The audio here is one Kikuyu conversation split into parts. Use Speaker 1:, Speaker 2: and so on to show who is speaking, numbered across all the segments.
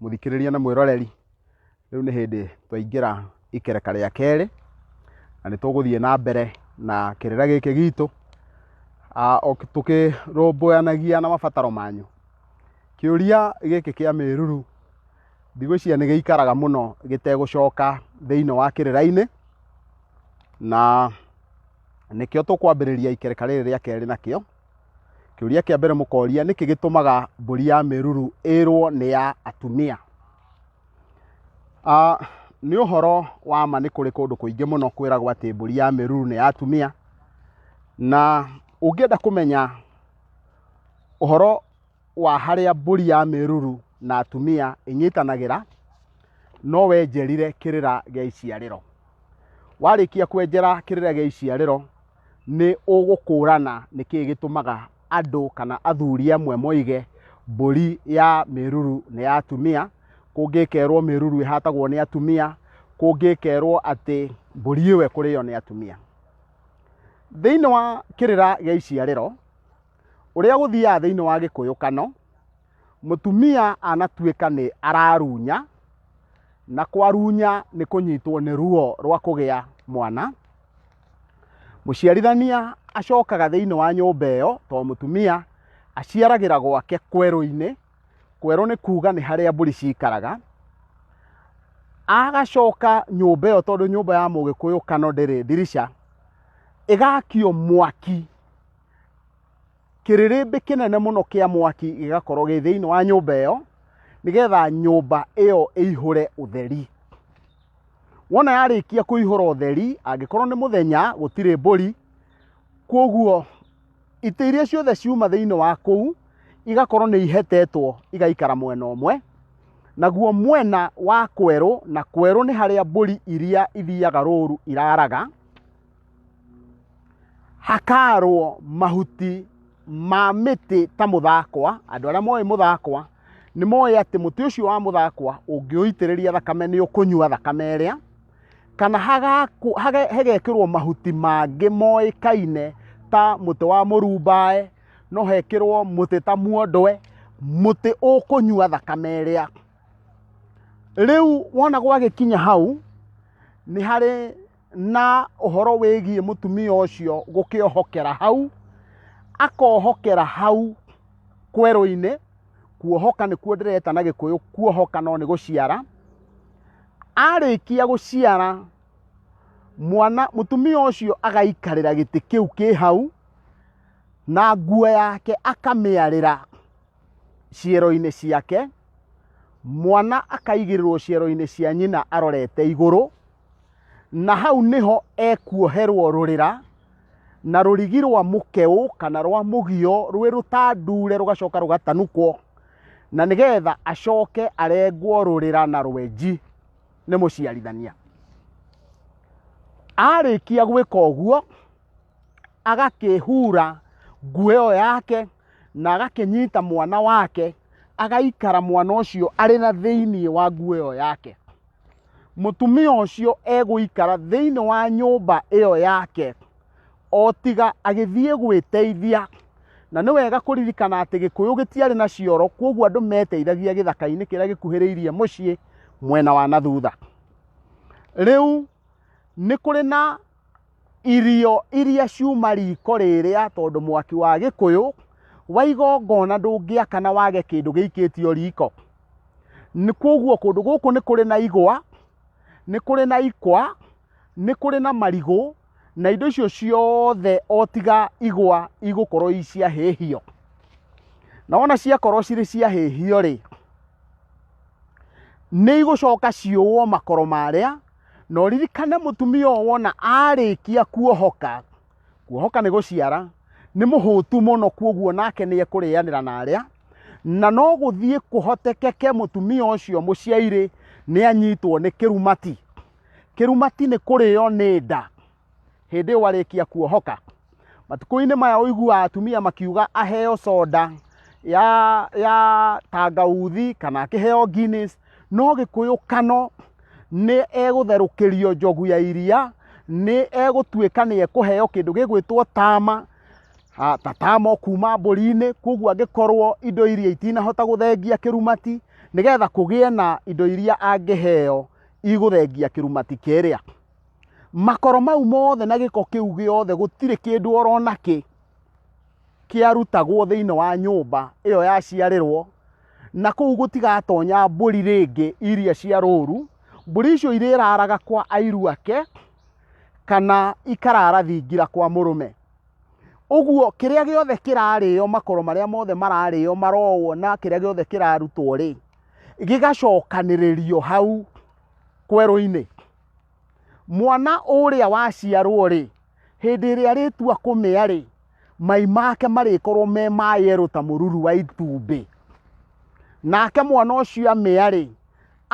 Speaker 1: mũthikĩrĩria na mwĩroreri rĩu nĩ hĩndĩ twaingĩra ikereka rĩa kerĩ na nĩ tũgũthiĩ na mbere na kĩrĩra gĩkĩ gitũ Ah, o- tũkĩrũmbũyanagia na mabataro manyu kĩũria gĩkĩ kĩa mĩruru Ndigwĩciria nĩ gĩikaraga mũno gĩtegũcoka thĩinĩ wa kĩrĩra-inĩ, na nĩkĩo tũkwambĩrĩria ikereka rĩrĩ rĩa kerĩ nakĩo. Kĩũria kĩa mbere mũkoria, nĩkĩ gĩtũmaga mbũri ya mĩruru ĩrwo nĩ ya atumia? Ah, nĩ ũhoro wa ma nĩ kũrĩ kũndũ kũingĩ mũno kwĩragwo atĩ mbũri ya mĩruru nĩ ya atumia, na ũngĩenda kũmenya ũhoro wa harĩa mbũri ya mĩruru na atumia ĩnyitanagĩra, no wenjerire kĩrĩra gĩa iciarĩro. Warĩkia kwenjera kĩrĩra gĩa iciarĩro, nĩ ũgũkũrana nĩ kĩĩ gĩtũmaga andũ kana athuri amwe moige mbũri ya mĩruru nĩ ya atumia, kũngĩ ĩkerwo mĩruru ĩhatagwo nĩ atumia, kũngĩ ĩkerwo atĩ mbũri ĩyo ĩkũrĩo nĩ atumia. Thĩinĩ wa kĩrĩra gĩa iciarĩro, ũrĩa gũthiaga thĩinĩ wa gĩkũyũkano mũtumia anatuĩka nĩ ararunya na kwarunya nĩ kũnyitwo nĩ ruo rwa kũgĩa mwana mũciarithania acokaga thĩinĩ wa nyũmba ĩyo to mũtumia aciaragĩra gwake kwerũ-inĩ kwerũ nĩ kuga nĩ harĩa mbũri cikaraga agacoka nyũmba ĩyo tondũ nyũmba ya mũgĩkũyũ kano ndĩrĩ ndirisha ĩgakio mwaki kĩrĩrĩmbĩ kĩnene mũno kĩa mwaki gĩgakorwo gĩ thĩinĩ wa nyũmba ĩyo nĩgetha nyũmba ĩyo ĩihũre ũtheri wona yarĩkia kũihũra ũtheri angĩkorwo nĩ mũthenya gũtirĩ mbũri kwoguo itĩ iria ciothe ciuma thĩinĩ wa kũu igakorwo nĩ ihetetwo igaikara mwena ũmwe naguo mwena wa kwerũ na kwerũ nĩ harĩa mbũri iria ithiaga rũru iraraga Hakaarwo mahuti ma mĩtĩ ta mũthakwa, andũ arĩa moĩ mũthakwa nĩ moĩ atĩ mũtĩ ũcio wa mũthakwa ũngĩũitĩrĩria thakame nĩ ũkũnyua thakame ĩrĩa, kana hagekĩrwo mahuti mangĩ moĩkaine ta mũtĩ wa mũrumbaĩ, no hekĩrwo mũtĩ ta muondwe, mũtĩ ũkũnyua thakame ĩrĩa. Rĩu wona gwagĩkinya hau nĩ harĩ na ũhoro wĩgiĩ mũtumia ũcio gũkĩohokera hau akohokera hau kwerũ-inĩ kuohoka nĩkuo ndĩreta na gĩkũyũ kuohoka no nĩ gũciara arĩkia gũciara mwana mũtumia ũcio agaikarĩra gĩtĩ kĩu kĩ hau na nguo yake akamĩarĩra ciero-inĩ ciake mwana akaigĩrĩrwo ciero-inĩ cia nyina arorete igũrũ na hau nĩho ekuoherwo rũrĩra na rũrigi rwa mũkeũ kana rwa mũgio rwĩ rũtandure rũgacoka rũgatanukwo na nĩgetha acoke arengwo rũrĩra na rwenji nĩ mũciarithania arĩkia gwĩka ũguo agakĩhura nguo ĩyo yake na agakĩnyita mwana wake agaikara mwana ũcio arĩ na thĩinĩ wa nguo ĩyo yake mũtumia ũcio egũikara thĩinĩ wa nyũmba ĩyo yake o tiga agĩthiĩ gwĩteithia na nĩ wega kũririkana atĩ gĩkũyũ gĩtiarĩ na cioro kwoguo andũ meteithagia gĩthaka-inĩ kĩrĩa gĩkuhĩrĩirie mũciĩ mwena wa na thutha rĩu nĩ kũrĩ na Irio iria ciuma riko rĩrĩa, tondũ mwaki wa gĩkũyũ wa igongona ndũngĩakana wage kĩndũ gĩikĩtio riko. Nĩ kwoguo kũndũ gũkũ nĩ kũrĩ na igwa, nĩ kũrĩ na ikwa, nĩ kũrĩ na marigũ, na indo icio ciothe o tiga igwa igũkorwo i cia hĩhio. Na wona ciakorwo cirĩ cia hĩhio rĩ, nĩ igũcoka ciũwo makoro marĩa. na ũririkane mũtumia ũyũ wona arĩkia kuohoka kuohoka nĩ gũciara nĩ mũhũtu mũno kuoguo nake nĩ ekũrĩanĩra na arĩa na no gũthiĩ kũhotekeke mũtumia ũcio mũciairĩ nĩ anyitwo nĩ kĩrumati kĩrumati nĩ kũrĩo nĩ nda hĩndĩ ĩyo warĩkia kuohoka matukũ-inĩ maya ũiguaga atumia makiuga aheo soda ya, ya tangauthi kana akĩheo Guinness no gĩkũyũ kano nĩ egũtherũkĩrio njogu ya iria nĩ egũtuĩka nĩ ekũheo kĩndũ gĩgwĩtwo tama Ah, ta tama kuma mbũri-inĩ koguo angĩkorwo indo iria itinahota gũthengia kĩrumati nĩgetha kũgĩe na indo iria angĩheo igũthengia kĩrumati kĩrĩa makoro mau mothe na gĩko kĩu gĩothe gũtirĩ kĩndũ oro nakĩ kĩarutagwo thĩinĩ wa nyũmba ĩyo yaciarĩrwo na kũu gũtigatonya mbũri rĩngĩ iria cia rũru mbũri icio irĩraraga kwa airu ake kana ikarara thingira kwa mũrũme ũguo kĩrĩa gĩothe kĩrarĩo makoro marĩa mothe mararĩo marowwo na kĩrĩa gĩothe kĩrarutwo rĩ gĩgacokanĩrĩrio hau kwerũ-inĩ mwana ũrĩa waciarwo-rĩ hĩndĩ ĩrĩa arĩtua kũmĩa-rĩ mai make marĩkorwo me ma yerũ ta mũruru wa itumbĩ nake mwana ũcio amĩa-rĩ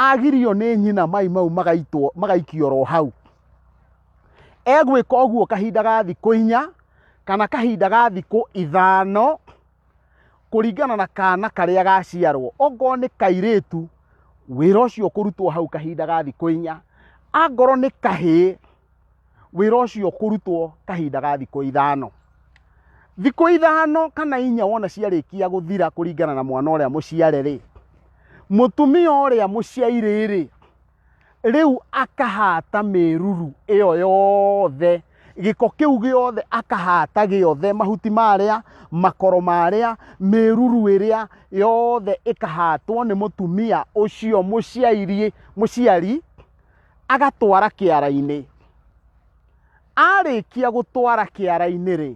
Speaker 1: agirio nĩ nyina mai mau magaitwo magaikio ro hau egwĩka ũguo kahinda ga thikũ inya kana kahinda ga thikũ ithano kũringana na kana karĩa gaciarwo okorwo nĩ kairĩtu wĩra ũcio kũrutwo hau kahinda ga thikũ inya angorwo nĩ kahĩĩ wĩra ũcio kũrutwo kahinda ga thikũ ithano thikũ ithano kana inya wona ciarĩkia gũthira kũringana na mwana ũrĩa mũciare rĩ mũtumia ũrĩa mũciairĩ rĩ rĩu akahata mĩruru ĩyo yothe gĩko kĩu gĩothe akahata gĩothe mahuti marĩa makoro marĩa mĩruru ĩrĩa yothe ĩkahatwo nĩ mũtumia ũcio mũciari mũciari agatwara kĩara-inĩ arĩkia gũtwara kĩara-inĩ rĩ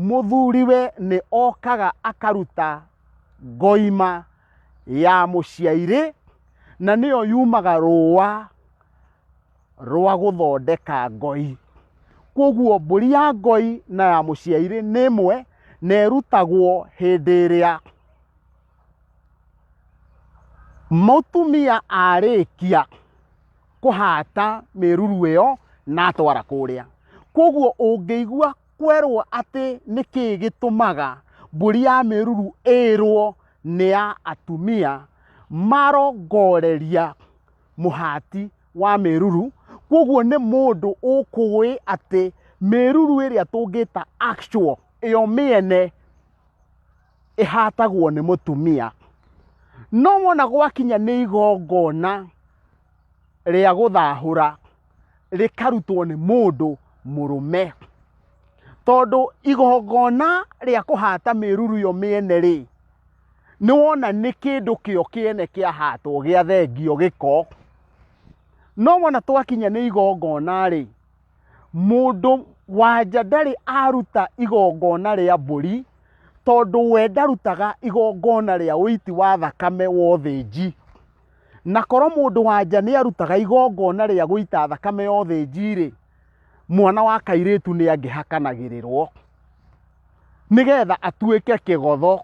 Speaker 1: mũthuriwe nĩ okaga akaruta ngoima ya mũciairĩ na nĩyo yumaga rũa rwa gũthondeka ngoi kwoguo mbũri ya ngoi na ya mũciairĩ nĩ ĩmwe na ĩrutagwo hĩndĩ ĩrĩa mũtumia arĩkia kũhata mĩruru ĩyo na atwara kũrĩa kwoguo ũngĩigua kwerwo atĩ nĩ kĩĩ gĩtũmaga mbũri ya mĩruru ĩrwo nĩ ya atumia marongoreria mũhati wa mĩruru kwoguo nĩ mũndũ ũkũĩ atĩ mĩruru ĩrĩa tũngĩta actual ĩyo mĩene ĩhatagwo nĩ mũtumia no wona gwakinya nĩ igongona rĩa gũthahũra rĩkarutwo nĩ mũndũ mũrũme tondũ igongona rĩa kũhata mĩruru yo mĩene rĩ nĩ wona nĩ kĩndũ kĩo kĩene kĩahatwo gĩa thengio gĩko no wona twakinya nĩ igongona rĩ mũndũ wanja ndarĩ aruta igongona rĩa mbũri tondũ we ndarutaga igongona rĩa ũiti wa thakame wa ũthĩnji. na korwo mũndũ wanja nĩ arutaga igongona rĩa gũita thakame ya ũthĩnji-rĩ mwana wa kairĩtu nĩ angĩhakanagĩrĩrwo nĩgetha atuĩke kĩgotho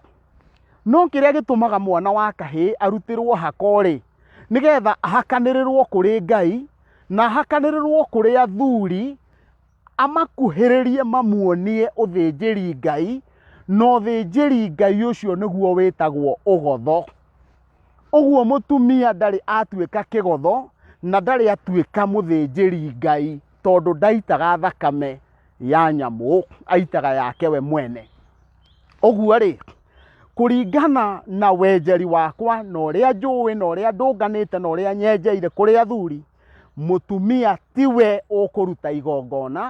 Speaker 1: no kĩrĩa gĩtũmaga mwana wa kahĩĩ arutĩrwo hako-rĩ nĩgetha ahakanĩrĩrwo kũrĩ ngai na ahakanĩrĩrwo kũrĩ athuri amakuhĩrĩrie mamuonie ũthĩnjĩri Ngai, na ũthĩnjĩri Ngai ũcio nĩguo wĩtagwo ũgotho. Ũguo mũtumia ndarĩ atuĩka kĩgotho na ndarĩ atuĩka mũthĩnjĩri Ngai tondũ ndaitaga thakame ya nyamũ, aitaga yake we mwene. Ũguo rĩ, kũringana na wenjeri wakwa na ũrĩa njũĩ na ũrĩa ndũnganĩte na ũrĩa nyenjeire kũrĩ athuri, mũtumia tiwe ũkũruta igongona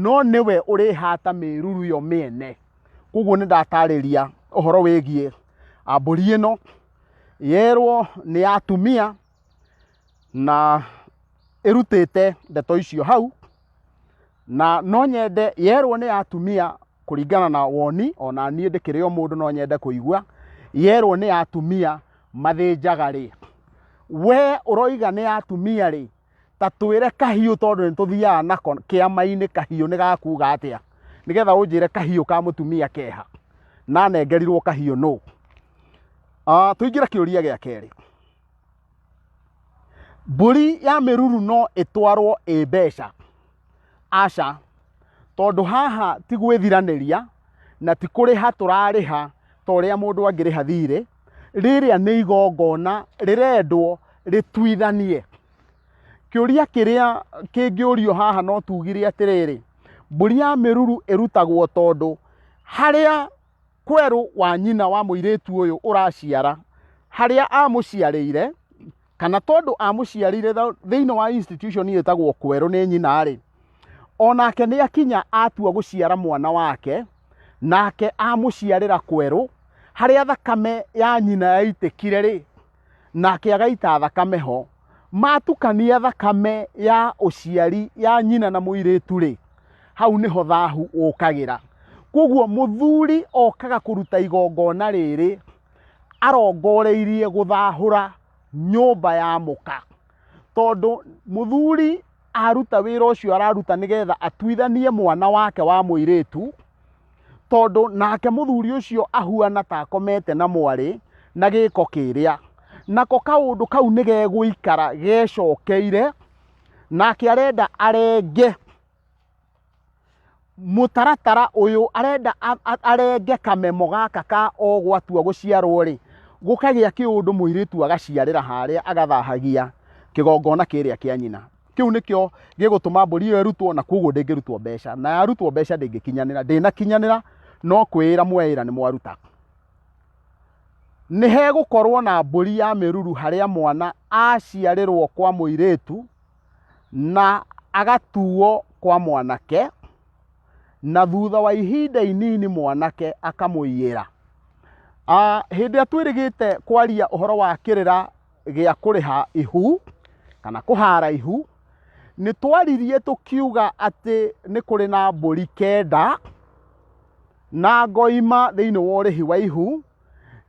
Speaker 1: no nĩwe ũrĩhata mĩruru yo mĩene koguo nĩ ndatarĩria ũhoro wĩgiĩ ah, mbũri ĩno yerwo nĩ ya atumia na ĩrutĩte ndeto icio hau na no nyende yerwo nĩ atumia kũringana na woni ona niĩ ndĩkĩrĩ o mũndũ no nyende kũigua yerwo nĩ atumia mathĩnjaga rĩ we ũroiga nĩ atumia rĩ ta twĩre kahiũ tondũ nĩ tũthiaga nako kĩama-inĩ kahiũ nĩ gakuga atĩa nĩgetha ũnjĩre kahiũ ka mũtumia keha nanengerirwo kahiũ nũ Ah, tũingĩre kĩũria gĩa kerĩ Mbũri ya mĩruru no ĩtwarwo ĩ mbeca? Aca, tondũ haha ti gwĩthiranĩria na ti kũrĩha tũrarĩha ta ũrĩa mũndũ angĩrĩha thirĩ, rĩrĩa nĩ igongona rĩrendwo rĩtuithanie. Kĩũria kĩrĩa kĩngĩũrio haha no tugire atĩrĩrĩ, mbũri ya mĩruru ĩrutagwo tondũ harĩa... kwerũ wa nyina wa mũirĩtu ũyũ ũraciara harĩa amũciarĩire kana tondũ amũciarĩire thĩinĩ wa institution ĩtagwo kwerũ nĩ nyina-rĩ onake nĩ akinya atua gũciara mwana wake nake amũciarĩra kwerũ harĩa thakame ya nyina yaitĩkire-rĩ nake agaita thakame ho matukania thakame ya ũciari ya nyina na mũirĩtu rĩ hau nĩho thahu ũkagĩra koguo mũthuri okaga kũruta igongona rĩrĩ arongoreirie gũthahũra nyũmba ya mũka tondũ mũthuri aruta wĩra ũcio araruta nĩgetha atuithanie mwana wake wa mũirĩtu tondũ nake mũthuri ũcio ahuana ta akomete na mwarĩ na gĩko kĩrĩa nako kaũndũ kau nĩ gegũikara gecokeire nake arenda arenge mũtaratara ũyũ arenda arenge kamemo gaka ka o gwatua gũciarwo rĩ gũkagĩa kĩũndũ mũirĩtu agaciarĩra harĩa agathahagia kĩgongona kĩrĩa kĩa nyina kĩu nĩkĩo gĩgũtũma mbũri ĩyo ĩrutwo na koguo ndĩngĩrutwo mbeca na yarutwo mbeca ndĩngĩkinyanĩra ndĩnakinyanĩra no kwĩĩra mweĩra nĩ mwaruta nĩ hegũkorwo na mbũri ya mĩruru harĩa mwana aciarĩrwo kwa mũirĩtu na agatuo kwa mwanake na thutha wa ihinda inini mwanake akamũiyĩra Ah, hĩndĩ ĩrĩa twĩrĩgĩte kwaria ũhoro wa kĩrĩra gĩa kũrĩha ihu kana kũhara ihu nĩ twaririe tũkiuga atĩ nĩ kũrĩ na mbũri kenda na ngoima thĩinĩ wa ũrĩhi wa ihu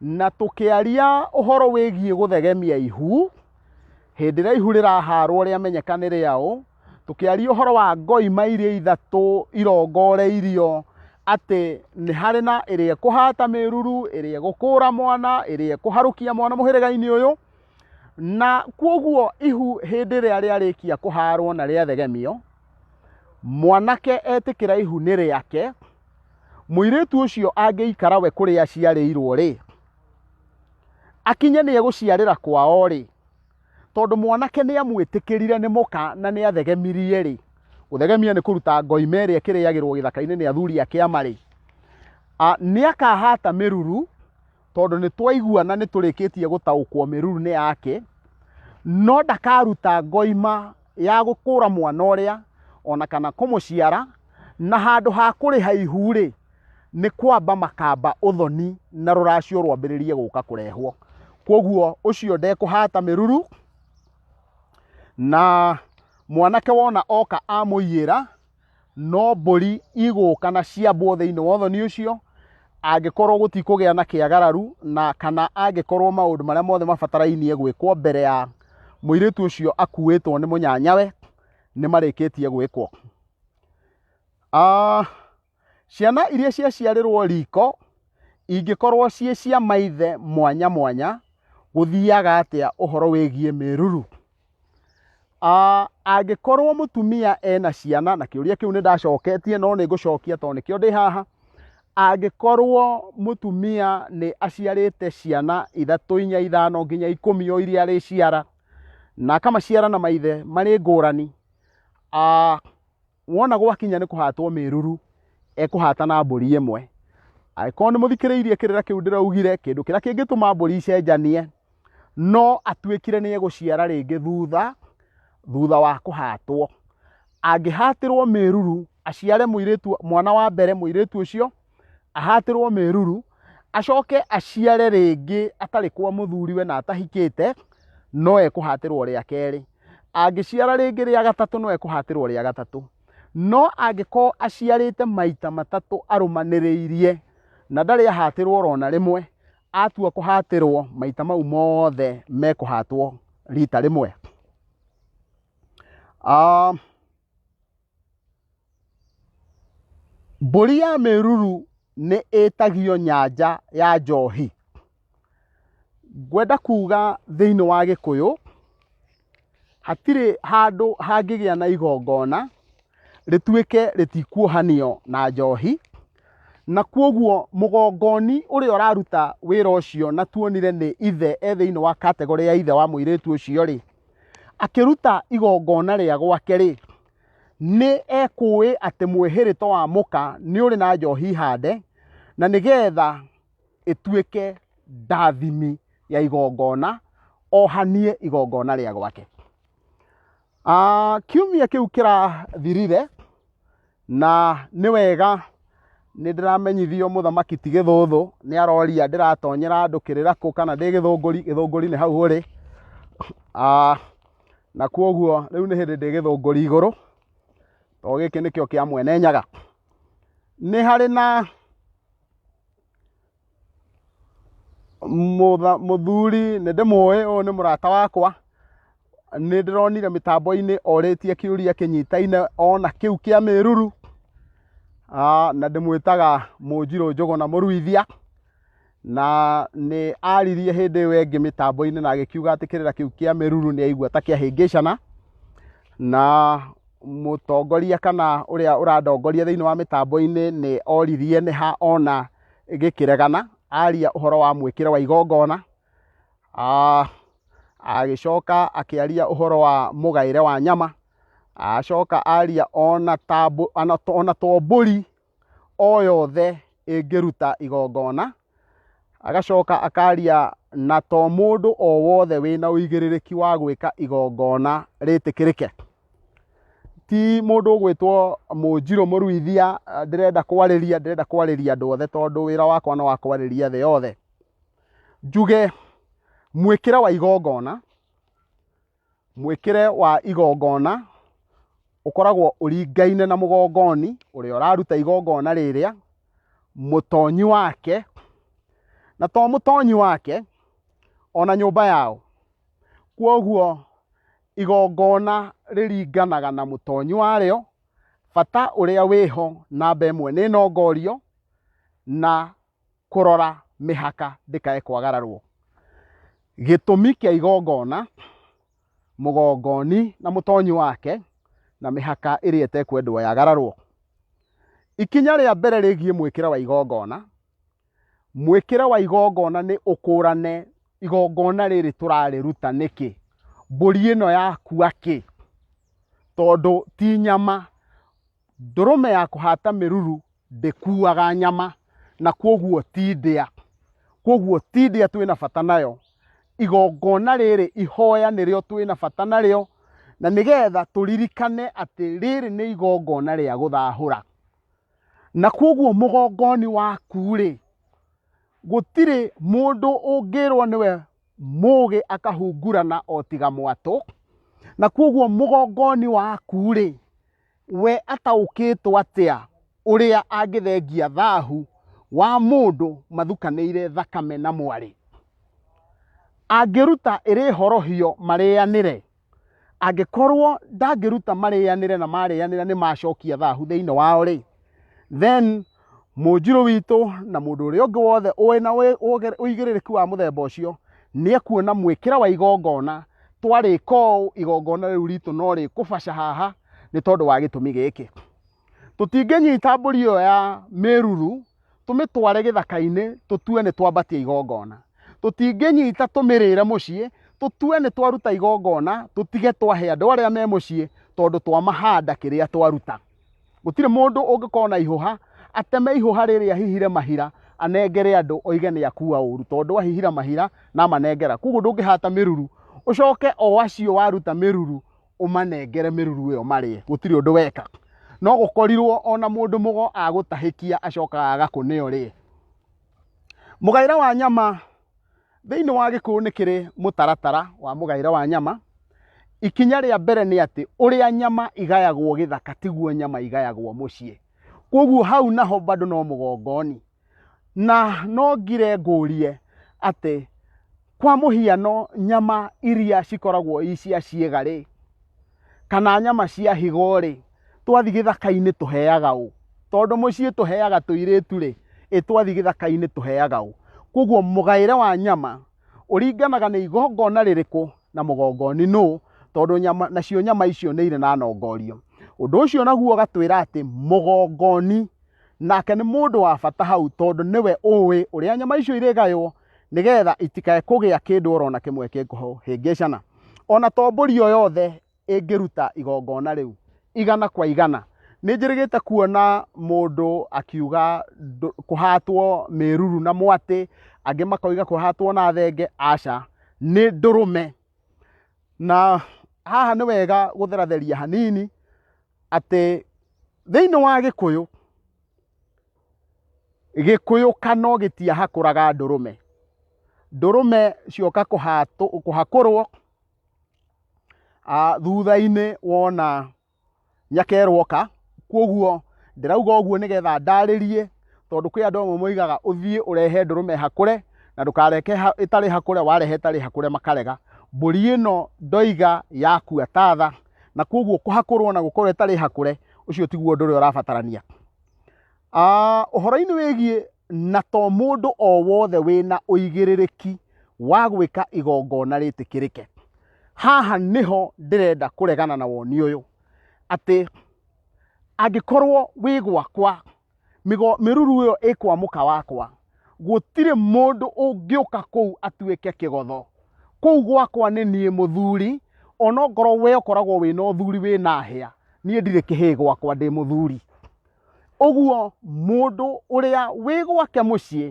Speaker 1: na tũkĩaria ũhoro wĩgiĩ gũthegemia ihu hĩndĩ ĩrĩa ihu rĩraharwo rĩamenyeka nĩ rĩaũ tũkĩaria ũhoro wa ngoima iria ithatũ irongoreirio atĩ nĩ harĩ na ĩrĩa ĩkũhata mĩruru ĩrĩa ĩgũkũra mwana ĩrĩa ĩkũharũkia mwana mũhĩrĩga-inĩ ũyũ na kwoguo ihu hĩndĩ ĩrĩa rĩarĩkia kũharwo na rĩathegemio mwanake etĩkĩra ihu nĩ rĩake mũirĩtu ũcio angĩikara we kũrĩa aciarĩirwo-rĩ, akinye nĩ egũciarĩra kwao-rĩ, tondũ mwanake nĩ amwĩtĩkĩrire nĩ mũka na nĩ athegemirie-rĩ, gũthegemia nĩ kũruta ngoima ĩrĩa ĩkĩrĩagĩrwo gĩthaka-inĩ nĩ athuri a kĩama-rĩ, nĩ akahata mĩruru, tondũ nĩ twaigua na nĩ tũrĩkĩtie gũtaũkwo mĩruru-inĩ yake no ndakaruta ngoima ya gũkũra mwana ũrĩa ona kana kũmũciara na handũ ha kũrĩha ihu rĩ nĩ kwamba makamba ũthoni na rũracio rwambĩrĩrie gũka kũrehwo kwoguo ũcio ndekũhata mĩruru na mwanake wona oka amũiyĩra no mbũri igũka na ciambwo thĩinĩ wa ũthoni ũcio angĩkorwo gũtikũgĩa na kĩagararu na kana angĩkorwo maũndũ marĩa mothe mabatarainie gwĩkwo mbere ya mũirĩtu ũcio akuĩtwo nĩ mũnyanyawe nĩ marĩkĩtie gwĩkwo Ah, ciana iria ciaciarĩrwo riko ingĩkorwo ciĩ cia maithe mwanya mwanya gũthiaga atĩa ũhoro wĩgiĩ mĩruru Ah, angĩkorwo mũtumia ena ciana na kĩũria kĩu nĩ ndacoketie no nĩ ngũcokia tondũ nĩkĩo ndĩ haha angĩkorwo mũtumia nĩ aciarĩte ciana ithatũ inya ithano nginya ikũmi o iria arĩciara na akamaciara na maithe marĩ ngũrani ah, wona gwakinya nĩ kũhatwo mĩruru ekũhata na mbũri ĩmwe angĩkorwo nĩ mũthikĩrĩirie kĩrĩra kĩu ndĩraugire kĩndũ kĩrĩa kĩngĩtũma mbũri icenjanie no atuĩkire nĩ egũciara rĩngĩ thutha thutha wa kũhatwo angĩhatĩrwo mĩruru aciare mũirĩtu mwana wa mbere mũirĩtu ũcio ahatĩrwo mĩruru acoke aciare rĩngĩ atarĩ kwa mũthuriwe na atahikĩte no ekũhatĩrwo rĩa kerĩ angĩciara rĩngĩ rĩa gatatũ no ekũhatĩrwo rĩa gatatũ no angĩkorwo aciarĩte maita matatũ arũmanĩrĩirie na ndarĩ ahatĩrwo orona rĩmwe atua kũhatĩrwo maita mau mothe mekũhatwo rita rĩmwe um, Mbũri ya mĩruru nĩ ĩtagio nyanja ya njohi. Ngwenda kuga thĩinĩ wa gĩkũyũ, hatirĩ handũ hangĩgĩa na igongona rĩtuĩke rĩtikuohanio na njohi, na kwoguo mũgongoni ũrĩa ũraruta wĩra ũcio na tuonire nĩ ithe e thĩinĩ wa category ya ithe wa mũirĩtu ũcio rĩ, akĩruta igongona rĩa gwake-rĩ, nĩ ekũĩ atĩ mwĩhĩrĩto wa mũka nĩ ũrĩ na njohi hande, na nĩ getha ĩtuĩke ndathimi ya igongona, ohanie igongona rĩa gwake. Ah, kiumia kĩu kĩrathirire, Na nĩ wega nĩ ndĩramenyithio mũthamaki ti gĩthũthũ nĩ aroria ndĩratonyera andũ kĩrĩra kũ kana ndĩ gĩthũngũri gĩthũngũri nĩ hau ũrĩ Ah, na kuoguo rĩu nĩ hĩndĩ ndĩ gĩthũngũri igũrũ to gĩkĩ nĩkĩo kĩa mwene nyaga nĩ harĩ na Mũtha, mũthuri nĩ ndĩmũĩ ũyũ nĩ mũrata wakwa nĩ ndĩronire mĩtambo-inĩ orĩtie kĩũria kĩnyitaine ona kĩu kĩa mĩruru Ah, na ndĩmwĩtaga mũnjirũ njũgũ na mũruithia na nĩ aririe hĩndĩ ĩyo ĩngĩ mĩtambo-inĩ na agĩkiuga atĩ kĩrĩra kĩu kĩa mĩruru nĩ aigua ta kĩahĩngĩcana na mũtongoria kana ũrĩa ũrandongoria thĩinĩ wa mĩtambo-inĩ nĩ oririe nĩ ha ona gĩkĩregana aria ũhoro wa mwĩkĩre wa igongona Ah, agĩcoka akĩaria ũhoro wa mũgaĩre wa nyama acoka aria ona ta mbũ- ona to- ona to mbũri o yothe ĩngĩruta igongona agacoka akaria na to mũndũ o wothe wĩna ũigĩrĩrĩki wa gwĩka igongona rĩtĩkĩrĩke Ti mũndũ ũgwĩtwo Mũnjirũ Mũruithia eh, ndĩrenda kwarĩria, ndĩrenda kwarĩria andũ othe tondũ wĩra wakwa nĩ wa kwarĩria thĩ yothe. Njuge mwĩkĩre wa igongona, mwĩkĩre wa igongona ũkoragwo ũringaine na mũgongoni ũrĩa ũraruta igongona rĩrĩa, mũtonyi wake, na to mũtonyi wake, ona nyũmba yao. Kuoguo igongona rĩringanaga na mũtonyi warĩo bata ũrĩa wĩho namba ĩmwe nĩ nongorio na kũrora mĩhaka ndĩkae kwagararwo gĩtũmi kĩa igongona mũgongoni na mũtonyi wake na mĩhaka ĩrĩa ĩtekwendwo yagararwo ikinya rĩa mbere rĩgiĩ mwĩkĩre wa igongona Mwĩkĩre wa igongona nĩ ũkũrane igongona rĩrĩ tũrarĩruta nĩkĩ? Mbũri ĩno yakua kĩ? Tondũ ti nyama. Ndũrũme ya kũhata mĩruru ndĩkuaga nyama na kwoguo ti ndĩa. Kwoguo ti ndĩa twĩ na bata nayo. Igongona rĩrĩ ihoya nĩrĩo twĩ na bata narĩo na nĩgetha tũririkane atĩ rĩrĩ nĩ igongona rĩa gũthahũra. na kwoguo mũgongoni waku-rĩ gũtirĩ mũndũ ũngĩrwo nĩwe mũgĩ akahungurana o tiga mwatũ na kwoguo mũgongoni waku-rĩ we ataũkĩtwo atĩa ũrĩa angĩthengia thahu wa mũndũ mathukanĩire thakame na mwarĩ angĩruta ĩrĩ horohio marĩanĩre angĩkorwo ndangĩruta marĩanĩre na marĩanĩra nĩ macokia thahu thĩinĩ wao rĩ then mũnjirũ witũ na mũndũ ũrĩa ũngĩ wothe ũĩ na ũĩ- ũgĩ- ũigĩrĩrĩki wa mũthemba ũcio nĩ ekuona mwĩkĩre wa igongona twarĩka ũũ igongona rĩu ritũ no rĩkũbaca haha nĩ tondũ wa gĩtũmi gĩkĩ tũtingĩnyita mbũri ĩyo ya mĩruru tũmĩtware gĩthaka-inĩ tũtue nĩ twambatia igongona tũtingĩnyita tũmĩrĩre mũciĩ tũtue nĩ twaruta igongona tũtige twahe andũ arĩa me mũciĩ tondũ twamahanda kĩrĩa twaruta gũtirĩ mũndũ ũngĩkorwo na ihũha ateme ihũha rĩrĩa hihire mahira anengere andũ oige nĩ akua ũru tondũ ahihira mahira na amanengera koguo ndũngĩhata mĩruru ũcoke o acio waruta mĩruru ũmanengere mĩruru ĩyo marĩe gũtirĩ ũndũ weka no gũkorirwo ona mũndũ mũgo agũtahĩkia acokaga agakũnĩa ũrĩe mũgaĩre wa nyama thĩinĩ wa gĩkũyũ nĩ kĩrĩ mũtaratara wa mũgaĩre wa nyama ikinya rĩa mbere nĩ atĩ ũrĩa nyama igayagwo gĩthaka tiguo nyama igayagwo mũciĩ kwoguo hau naho bado no mũgongoni na no ngire ngũrie atĩ kwa mũhiano nyama iria cikoragwo i cia ciĩga rĩ kana nyama cia higo rĩ twathiĩ gĩthaka-inĩ tũheaga ũ tondũ mũciĩ tũheaga tũirĩtu rĩ ĩ twathiĩ gĩthaka-inĩ tũheaga ũ koguo mũgaĩre wa nyama ũringanaga nĩ igongona rĩrĩkũ na mũgongoni nũ tondũ nyama nacio nyama icio nĩ irĩ na nongorio ũndũ ũcio naguo ũgatwĩra atĩ mũgongoni nake nĩ mũndũ wa bata hau tondũ nĩwe ũĩ ũrĩa nyama icio irĩgaywo nĩgetha itikae kũgĩa kĩndũ orona kĩmwe kĩngũhĩngĩcana ona to mbũri o yothe ĩngĩruta igongona rĩu igana kwa igana nĩ njĩrĩgĩte kuona mũndũ akiuga ndũ- kũhatwo mĩruru na mwatĩ angĩ makoiga kũhatwo na thenge aca nĩ ndũrũme na haha nĩ wega gũtheratheria hanini atĩ thĩinĩ wa gĩkũyũ gĩkũyũ kano gĩtiahakũraga ndũrũme ndũrũme cioka kũhakũrwo thutha-inĩ wona nyaka ĩroka kwoguo ndĩrauga ũguo nĩgetha ndarĩrie tondũ kwĩ andũ amwe moigaga ũthiĩ ũrehe ndũrũme ĩhakũre na ndũkareke ĩtarĩ hakũre warehe ĩtarĩ hakũre makarega mbũri ĩno ndoiga yakua tatha na koguo kũhakũrwo na gũkorwo ĩtarĩ hakũre ũcio tiguo ũndũ ũrĩa ũrabatarania Ah, ũhoro-inĩ wĩgiĩ na to mũndũ o wothe wĩna ũigĩrĩrĩki wa gwĩka igongona rĩtĩkĩrĩke haha nĩho ndĩrenda kũregana na woni ũyũ atĩ angĩkorwo wĩ gwakwa Mĩgo- mĩruru ĩyo ĩkwa mũka wakwa gũtirĩ mũndũ ũngĩũka kũu atuĩke kĩgotho kũu gwakwa nĩ niĩ mũthuri ona ngorwo we ũkoragwo wĩna ũthuri wĩna hĩa niĩ ndirĩ kĩhĩĩ gwakwa ndĩ mũthuri ũguo mũndũ ũrĩa wĩ gwake mũciĩ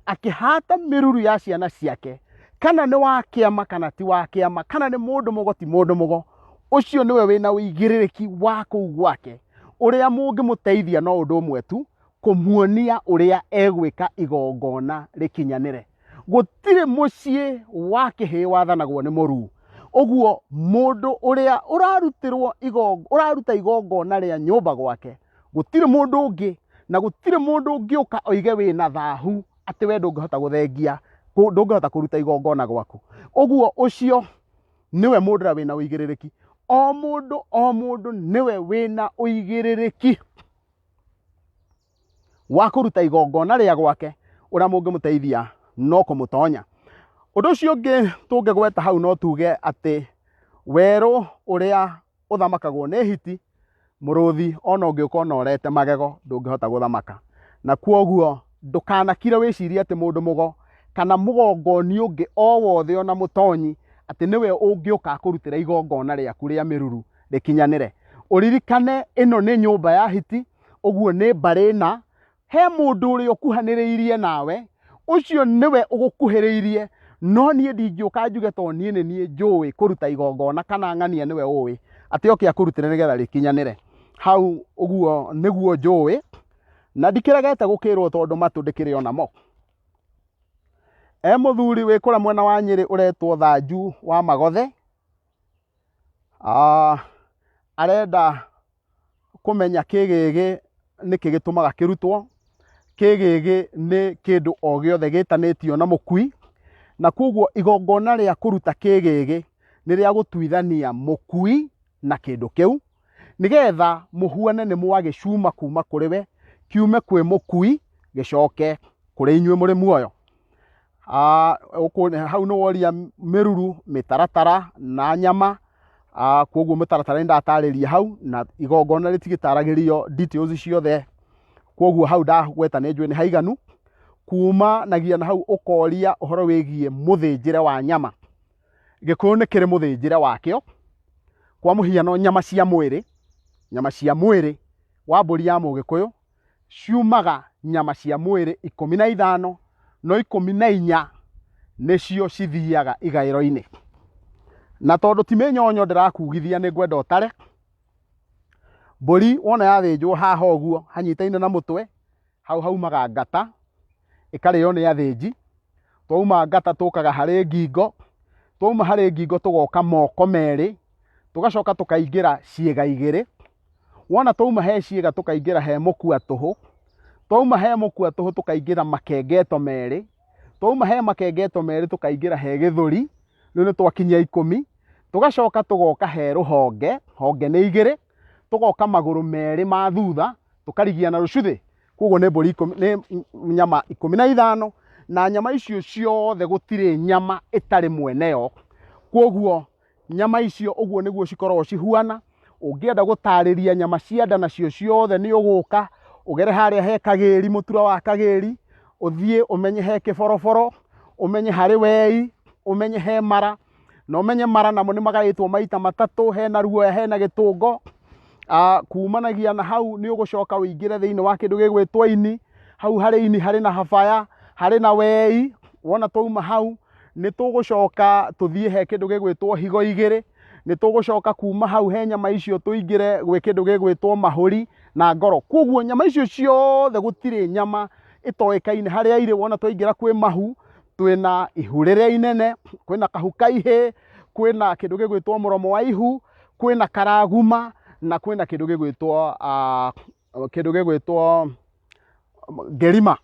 Speaker 1: akĩhata mĩruru ya ciana ciake kana nĩ wa kĩama kana ti wa kĩama kana nĩ mũndũ mũgo ti mũndũ mũgo ũcio nĩwe wĩna ũigĩrĩrĩki wa kũu gwake ũrĩa mũngĩmũteithia no ũndũ ũmwe tu kũmuonia ũrĩa egwĩka igongona rĩkinyanĩre gũtirĩ mũciĩ wa kĩhĩĩ wathanagwo nĩ mũruu ũguo mũndũ ũrĩa ũrarutĩrwo igongo- ũraruta igongona rĩa nyũmba gwake gũtirĩ mũndũ ũngĩ na gũtirĩ mũndũ ũngĩũka oige wĩ na thahu atĩ we ndũngĩhota gũthengia kũ- ndũngĩhota kũruta igongona gwaku ũguo ũcio nĩwe mũndũ ũrĩa wĩna ũigĩrĩrĩki o mũndũ o mũndũ nĩwe wĩna ũigĩrĩrĩki wa kũruta igongona rĩa gwake ũrĩa mũngĩmũteithia no kũmũtonya ũndũ ũcio ũngĩ tũngĩgweta hau no tuge atĩ werũ ũrĩa ũthamakagwo nĩ hiti mũrũthi ona ũngĩũka ũnorete magego ndũngĩhota gũthamaka na kwoguo ndũkanakire wĩcirie atĩ mũndũ mũgo kana mũgongoni ũngĩ o wothe ona mũtonyi atĩ nĩwe ũngĩũka akũrutĩra igongona rĩaku rĩa mĩruru rĩkinyanĩre ũririkane ĩno nĩ nyũmba ya hiti ũguo nĩ mbarĩ na he mũndũ ũrĩa ũkuhanĩrĩirie nawe ũcio nĩwe ũgũkuhĩrĩirie no niĩ ndingĩũka njuge to niĩ nĩ niĩ njũĩ kũruta igongona kana ng'ania nĩwe ũĩ atĩ oke akũrutĩre nĩgetha rĩkinyanĩre hau ũguo nĩguo njũĩ na ndikĩregete gũkĩrwo tondũ matũ ndĩkĩrĩ ona mo e mũthuri wĩ kũrĩa mwena wa nyĩrĩ ũretwo thanju wa magothe Ah, arenda kũmenya kĩ gĩgĩ nĩkĩ gĩtũmaga kĩrutwo, kĩ gĩgĩ nĩ kĩndũ o gĩothe gĩtanĩtio na mũkui, na kwoguo igongona rĩa kũruta kĩ gĩgĩ nĩ rĩa gũtuithania mũkui na kĩndũ kĩu, nĩgetha mũhuane nĩ mwagĩcuma kuma kũrĩ we, kiume kwĩ mũkui gĩcoke kũrĩ inyuĩ mũrĩ muoyo. ah, ũkũ- hau nĩ woria mĩruru mĩtaratara na nyama Ah, kwoguo mĩtaratara nĩ ndatarĩria hau na igongona rĩtigĩtaragĩrio details ciothe kwoguo hau ndagweta nĩ njũĩ nĩ haiganu kumanagia na hau ũkoria ũhoro wĩgiĩ mũthĩnjĩre wa nyama gĩkũyũ nĩ kĩrĩ mũthĩnjĩre wakĩo kwa mũhiano nyama cia mwĩrĩ nyama cia mwĩrĩ wa mbũri ya mũgĩkũyũ ciumaga nyama cia mwĩrĩ ikũmi na ithano no ikũmi na inya nĩcio cithiaga igaĩro-inĩ na tondũ ti mĩnyonyo ndĩrakugithia nĩ ngwenda ũtare mbũri wona yathĩnjwo haha ũguo hanyitaine na mũtwe hau haumaga ngata ĩkarĩo nĩ athĩnji twauma ngata tũkaga harĩ ngingo twauma harĩ ngingo tũgoka moko merĩ tũgacoka tũkaingĩra ciĩga igĩrĩ wona twauma he ciĩga tũkaingĩra he mũkua tũhũ twauma he mũkua tũhũ tũkaingĩra makengeto merĩ twauma he makengeto merĩ tũkaingĩra he gĩthũri rĩu nĩ twakinyia ikũmi tũgacoka tũgoka he rũhonge honge nĩ igĩrĩ tũgoka magũrũ merĩ ma thutha tũkarigia na rũcuthĩ koguo nĩ mbũri ikũmi nĩ nyama ikũmi na ithano na nyama icio ciothe gũtirĩ nyama ĩtarĩ mwene yo koguo Nyama icio ũguo nĩguo cikoragwo cihuana. Ũngĩenda gũtarĩria nyama cia nda nacio ciothe nĩ ũgũka ũgere harĩa he kagĩri, mũtura wa kagĩri, ũthiĩ ũmenye he kĩboroboro, ũmenye harĩ wei, ũmenye he mara, na ũmenye mara namo nĩ magaĩtwo maita matatũ, hena ruoya, hena gĩtũngo. Ah, kumanagia na hau nĩ ũgũcoka ũingĩre thĩinĩ wa kĩndũ gĩgwĩtwo ini, hau harĩ ini harĩ na habaya, harĩ na wei, wona twauma hau nĩ tũgũcoka tũthiĩ he kĩndũ gĩgwĩtwo higo igĩrĩ nĩ tũgũcoka kuma hau he nyama icio tũingĩre gwĩ kĩndũ gĩgwĩtwo mahũri na ngoro kwoguo nyama icio ciothe gũtirĩ nyama ĩtoĩkaine harĩa irĩ wona twaingĩra kwĩ mahu twĩna ihu rĩrĩa inene kwĩna kahu kaihĩ kwĩna kĩndũ gĩgwĩtwo mũromo wa ihu kwĩna karaguma na kwĩna kĩndũ gĩgwĩtwo ah, kĩndũ gĩgwĩtwo ngerima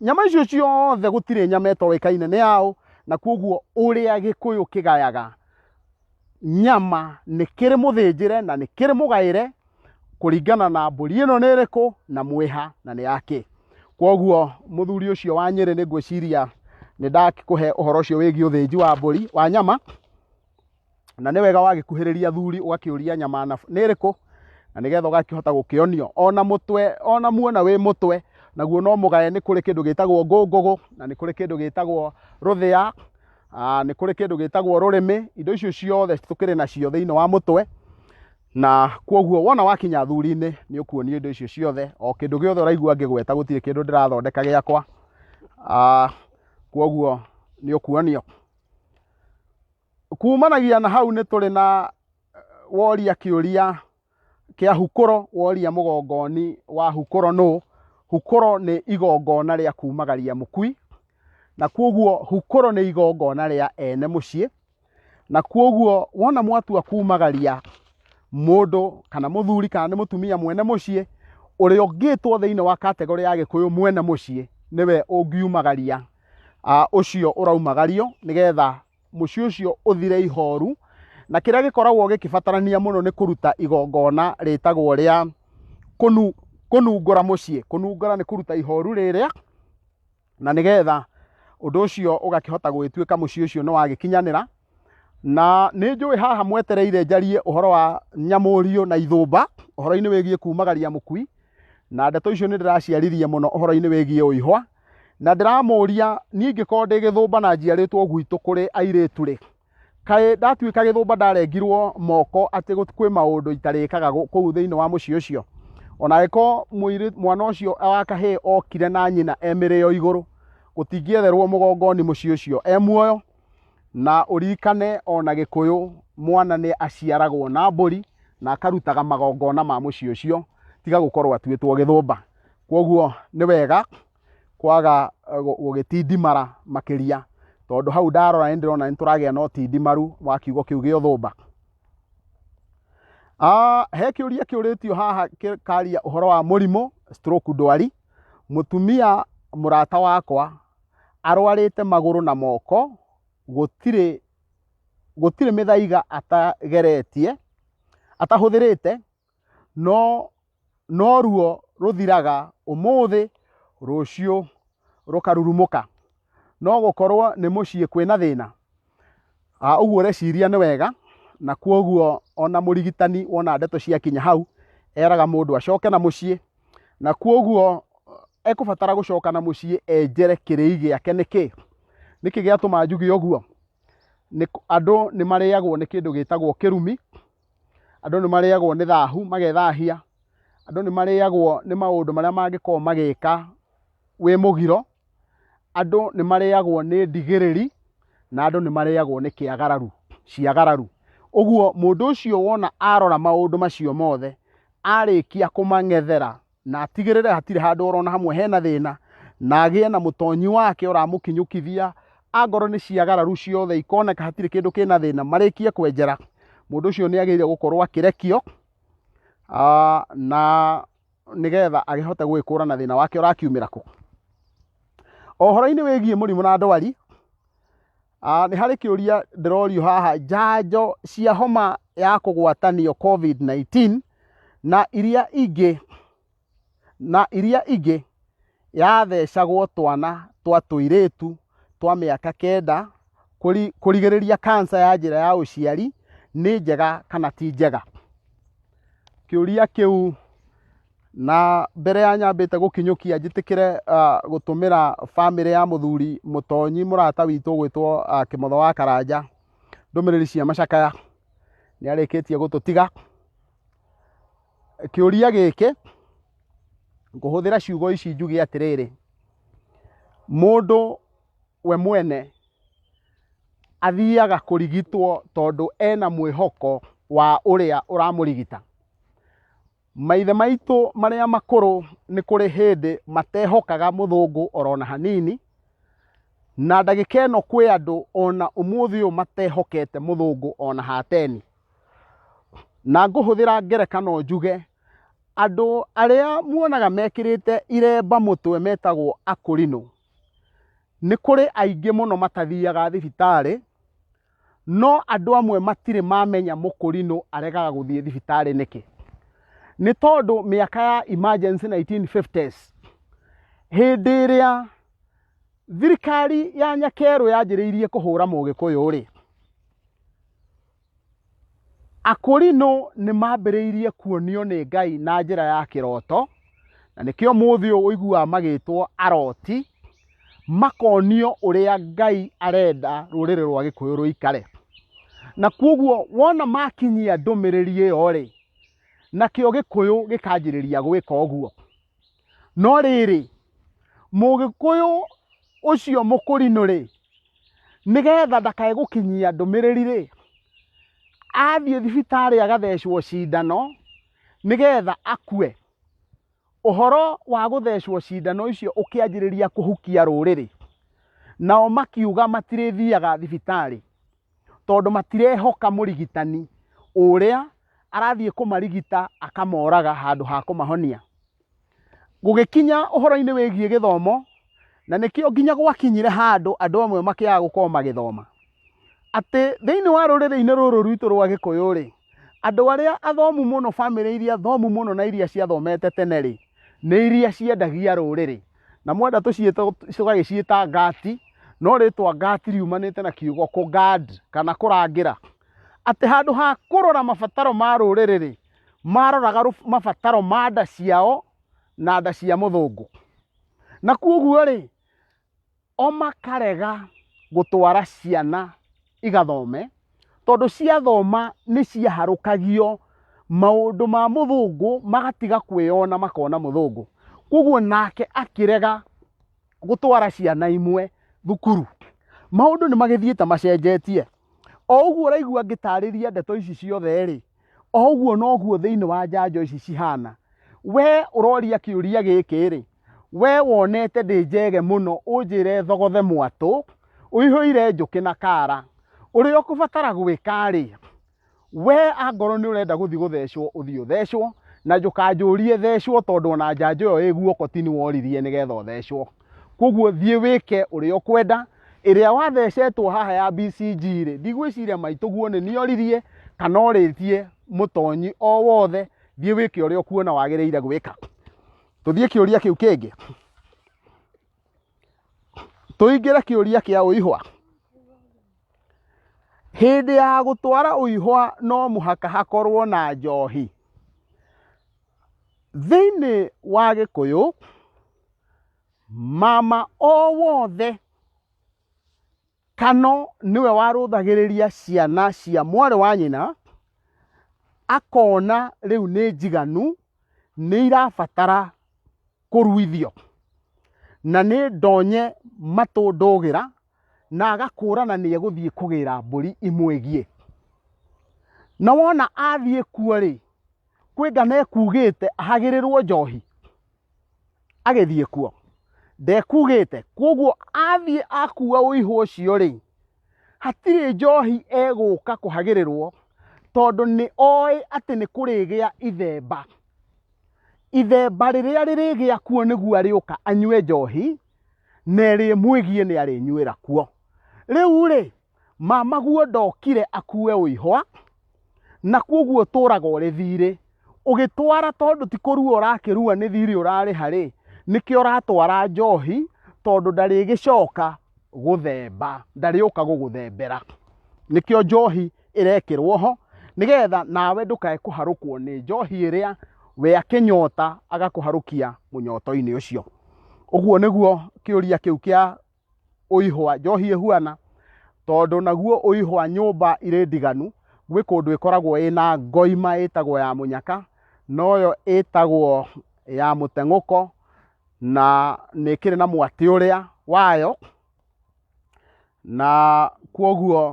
Speaker 1: nyama icio ciothe gũtirĩ nyama ĩtoĩkaine nĩ yaũ na kwoguo ũrĩa gĩkũyũ kĩgayaga nyama nĩ kĩrĩ mũthĩnjĩre na nĩ kĩrĩ mũgaĩre kũringana na mbũri ĩno nĩ ĩrĩkũ na mwĩha na nĩ yakĩ kwoguo mũthuri ũcio wa nyĩrĩ nĩ ngwĩciria nĩ ndakũhe ũhoro ũcio wĩgiĩ ũthĩnji wa mbũri wa nyama na nĩ wega wagĩkuhĩrĩria athuri ũgakĩũria nyama na nĩ ĩrĩkũ na nĩgetha ũgakĩhota gũkĩonio ona mũtwe ona muona wĩ mũtwe naguo no mũgaye nĩ kũrĩ kĩndũ gĩtagwo ngũngũgũ na nĩ kũrĩ kĩndũ gĩtagwo rũthĩa ah, nĩ kũrĩ kĩndũ gĩtagwo rũrĩmĩ indo icio ciothe tũkĩrĩ nacio thĩinĩ wa mũtwe na kwoguo wona wakinya thuri-inĩ nĩ ũkuonio indo icio ciothe o kĩndũ gĩothe ũraigua ngĩgweta gũtirĩ kĩndũ ndĩrathondeka gĩakwa Ah, kwoguo nĩ ũkuonio Kumanagia na hau nĩ tũrĩ na woria kĩũria kĩa hukũro woria mũgongoni wa hukũro nũ hukũro nĩ igongona rĩa kumagaria mũkui na kwoguo hukũro nĩ igongona rĩa ene mũciĩ na kwoguo wona mwatua kumagaria mũndũ kana mũthuri kana nĩ mũtumia mwene mũciĩ ũrĩa ũngĩtwo thĩinĩ wa kategorĩ ya gĩkũyũ mwene mũciĩ nĩwe ũngiumagaria ah, ũcio ũraumagario nĩgetha mũciĩ ũcio ũthire ihoru na kĩrĩa gĩkoragwo gĩkĩbatarania mũno nĩ kũruta igongona rĩtagwo rĩa kũnu- kũnungũra mũciĩ kũnungũra nĩ kũruta ihoru rĩrĩa na nĩgetha ũndũ ũcio ũgakĩhota gwĩtuĩka mũciĩ ũcio nĩ wagĩkinyanĩra na nĩ njũĩ haha mwetereire njarie ũhoro wa nyamũrio na ithũmba ũhoro-inĩ wĩgiĩ kumagaria mũkui na ndeto icio nĩ ndĩraciaririe mũno ũhoro-inĩ wĩgiĩ ũihwa na ndĩramũria niĩ ingĩkorwo ndĩ gĩthũmba na njiarĩtwo gwitũ kũrĩ airĩtu rĩ kaĩ ndatuĩka gĩthũmba ndarengirwo moko atĩ gũt- kwĩ maũndũ itarĩkaga gũ- kũu thĩinĩ wa mũciĩ ũcio ona angĩkorwo mũirĩ- mwana ũcio wa kahĩĩ okire na nyina e mĩrĩo igũrũ gũtingĩetherwo mũgongoni mũciĩ ũcio e muoyo na ũririkane ona gĩkũyũ mwana nĩ aciaragwo na mbũri na akarutaga magongona ma mũciĩ ũcio tiga gũkorwo atuĩtwo gĩthũmba Kwoguo nĩ wega kwaga gũgĩtindimara makĩria tondũ hau ndarora nĩ ndĩrona nĩ tũragĩa na ũtindimaru wa kiugo kĩu gĩa ũthũmba he kä å ria kä å rä tio haha kä karia å horo wa må rimå stroke ndwari må tumia må rata wakwa arwarä te magå rå na moko gå tirä mä thaiga atageretie atahå thä rä te no no ruo rũthiraga ũmũthĩ rũciũ rũkarurumũka no gũkorwo nĩ mũciĩ kwĩna thĩna a ũguo ũreciria nĩ wega na kwoguo ona mũrigitani wona ndeto ciakinya hau eraga mũndũ acoke na mũciĩ na kwoguo ekũbatara gũcoka na mũciĩ enjere kĩrĩi gĩake nĩkĩ nĩkĩ gĩatũma njuge ũguo andũ nĩ marĩagwo nĩ kĩndũ gĩtagwo kĩrumi andũ nĩ marĩagwo nĩ thahu magethahia, andũ nĩ marĩagwo nĩ maũndũ marĩa mangĩkorwo magĩka wĩ mũgiro, andũ nĩ marĩagwo nĩ ndigĩrĩri, na andũ nĩ marĩagwo nĩ kĩagararu, ciagararu. Ũguo mũndũ ũcio wona arora maũndũ macio mothe, arĩkia kũmang'ethera, na atigĩrĩre hatirĩ handũ orona hamwe hena thĩna na agĩe na mũtonyi wake ũramũkinyũkithia angorwo nĩ ciagararu ciothe ikoneka hatirĩ kĩndũ kĩna thĩna marĩkie kwenjera mũndũ ũcio nĩ agĩrĩire gũkorwo akĩrekio ah, na nĩgetha agĩhote gwĩkũra na thĩna wake ũrakiumĩra kũ. Ũhoro-inĩ wĩgiĩ mũrimũ na ndwari, Ah, nĩ harĩ kĩũria ndĩrorio haha njanjo cia homa ya kũgwatanio covid-19 na iria ingĩ na iria ingĩ yathecagwo twana twa tũirĩtu twa mĩaka kenda kũri- kũrigĩrĩria kansa ya njĩra ya ũciari nĩ njega kana ti njega kĩũria kĩu na mbere ya nyambĩte gũkinyũkia njĩtĩkĩre ah, gũtũmĩra bamĩrĩ ya mũthuri mũtonyi mũrata witũ gwĩtwo ah, kĩmotho wa karanja ndũmĩrĩri cia macakaya nĩ arĩkĩtie gũtũtiga kĩũria gĩkĩ ngũhũthĩra ciugo ici njuge atĩrĩrĩ mũndũ we mwene athiaga kũrigitwo tondũ ena mwĩhoko wa ũrĩa ũramũrigita Maithe maitũ marĩa makũrũ nĩ kũrĩ hĩndĩ matehokaga mũthũngũ orona hanini, na ndagĩka ĩno kwĩ andũ ona ũmũthĩ ũyũ matehokete mũthũngũ ona hateni. Na ngũhũthĩra ngerekano njuge, andũ arĩa muonaga mekĩrĩte iremba mũtwe metagwo akũrinũ, nĩ kũrĩ aingĩ mũno matathiaga thibitarĩ, No andũ amwe matirĩ mamenya mũkũrinũ aregaga gũthiĩ thibitarĩ nĩkĩ. Nĩ tondũ mĩaka ya emergency 1950s hĩndĩ ĩrĩa thirikari ya nyakerũ yanjĩrĩirie kũhũra mũgĩkũyũ rĩ, Akorinũ nĩ maambĩrĩirie kuonio nĩ Ngai na njĩra ya kĩroto, na nĩkĩo mũthĩ ũyũ ũiguaga magĩtwo aroti, makonio ũrĩa Ngai arenda rũrĩrĩ rwa Gĩkũyũ rũikare. Na kwoguo wona makinyia ndũmĩrĩri ĩyo rĩ, nakĩo Gĩkũyũ gĩkanjĩrĩria gwĩka ũguo. No rĩrĩ, Mũgĩkũyũ ũcio mũkũrinũ-rĩ, nĩgetha ndakae gũkinyia ndũmĩrĩri-rĩ, athiĩ thibitarĩ agathecwo cindano nĩgetha akue. Ũhoro wa gũthecwo cindano icio ũkĩanjĩrĩria kũhukia rũrĩrĩ, nao makiuga matirĩthiaga thibitarĩ. tondũ matirehoka mũrigitani ũrĩa arathiĩ kũmarigita akamoraga handũ ha kũmahonia gũgĩkinya ũhoro-inĩ wĩgiĩ gĩthomo na nĩkĩo nginya gwakinyire handũ andũ amwe makĩaga gũkorwo magĩthoma atĩ thĩinĩ wa rũrĩrĩ-inĩ rũrũ rwitũ rwa gĩkũyũ rĩ andũ arĩa athomu mũno bamĩrĩ iria thomu mũno na iria ciathomete tene rĩ nĩ iria ciendagia rũrĩrĩ na mwenda tũciĩte tũgagĩciĩta ngati no rĩtwa ngati riumanĩte na kiugo kũ guard kana kũrangĩra atĩ handũ ha kũrora mabataro ma rũrĩrĩ rĩ maroraga rũ- mabataro ma nda ciao na nda cia mũthũngũ na kuoguo rĩ o makarega gũtwara ciana igathome tondũ ciathoma nĩ ciaharũkagio maũndũ ma mũthũngũ magatiga kwĩyona makona mũthũngũ koguo nake akĩrega gũtwara ciana imwe thukuru maũndũ nĩ magĩthiĩte macenjetie o ũguo ũraigua ngĩtarĩria ndeto ici ciothe rĩ o ũguo noguo thĩinĩ wa njanjo ici cihana we ũroria kĩũria gĩkĩ rĩ we wonete ndĩ njege mũno ũnjĩre thogothe mwatũ ũihũire njũkĩ na kara ũrĩa ũkũbatara gwĩka rĩ we angorwo nĩ ũrenda gũthiĩ gũthecwo ũthiĩ ũthecwo na njũkanjũrie thecwo tondũ ona njanjo ĩyo ĩ guoko ti nĩ woririe nĩgetha ũthecwo koguo thiĩ wĩke ũrĩa ũkwenda ĩrĩa wathecetwo haha ya BCG rĩ ndigwĩciria maitũguo nĩ niĩ oririe kana orĩtie mũtonyi o wothe thiĩ wĩke ũrĩa ũkuona wagĩrĩire gwĩka tũthiĩ kĩũria kĩu kĩngĩ tũingĩre kĩũria kĩa ũihwa hĩndĩ ya gũtwara ũihwa no mũhaka hakorwo na njohi thĩinĩ wa gĩkũyũ mama o wothe kano nĩwe warũthagĩrĩria ciana cia mwarĩ wa nyina akona rĩu nĩ njiganu nĩ irabatara kũruithio na nĩ ndonye matũ ndũgĩra na agakũrana nĩ egũthiĩ kũgĩra mbũri imwĩgiĩ na wona athiĩ kuo rĩ kwĩngana ekugĩte ahagĩrĩrwo njohi agĩthiĩ kuo ndekugĩte kwoguo athiĩ akua ũihũ ũcio rĩ hatirĩ njohi egũka kũhagĩrĩrwo tondũ nĩ oĩ atĩ nĩ kũrĩgĩa ithemba ithemba rĩrĩa rĩrĩgĩa kuo nĩguo arĩũka anyue njohi na ĩrĩmwĩgie nĩ arĩnyuĩra kuo rĩu rĩ Mamaguo ndokire akue ũihwa, na kwoguo tũraga ũrĩ thiirĩ. Ũgĩtwara tondũ ti kũrua ũrakĩrua nĩ thiirĩ ũrarĩha-rĩ, nĩkĩo ũratwara njoohi tondũ ndarĩgĩcooka gũthemba, ndarĩũka gũgũthembera. Nĩkĩo njoohi ĩrekĩrwo ho, nĩgeetha nawe ndũkae kũharũkwo nĩ njoohi ĩrĩa we akĩnyoota agakũharũkia mũnyooto-inĩ ũcio. Ũguo nĩguo kĩũria kĩu kĩa ũihwa njohi ĩhuana tondũ naguo ũihwa nyũmba irĩ ndiganu gwĩ kũndũ ĩkoragwo ĩna ngoima ĩtagwo ya mũnyaka noyo ĩtagwo ya mũteng'ũko na nĩ ĩkĩrĩ na mwatĩ ũrĩa wayo na kwoguo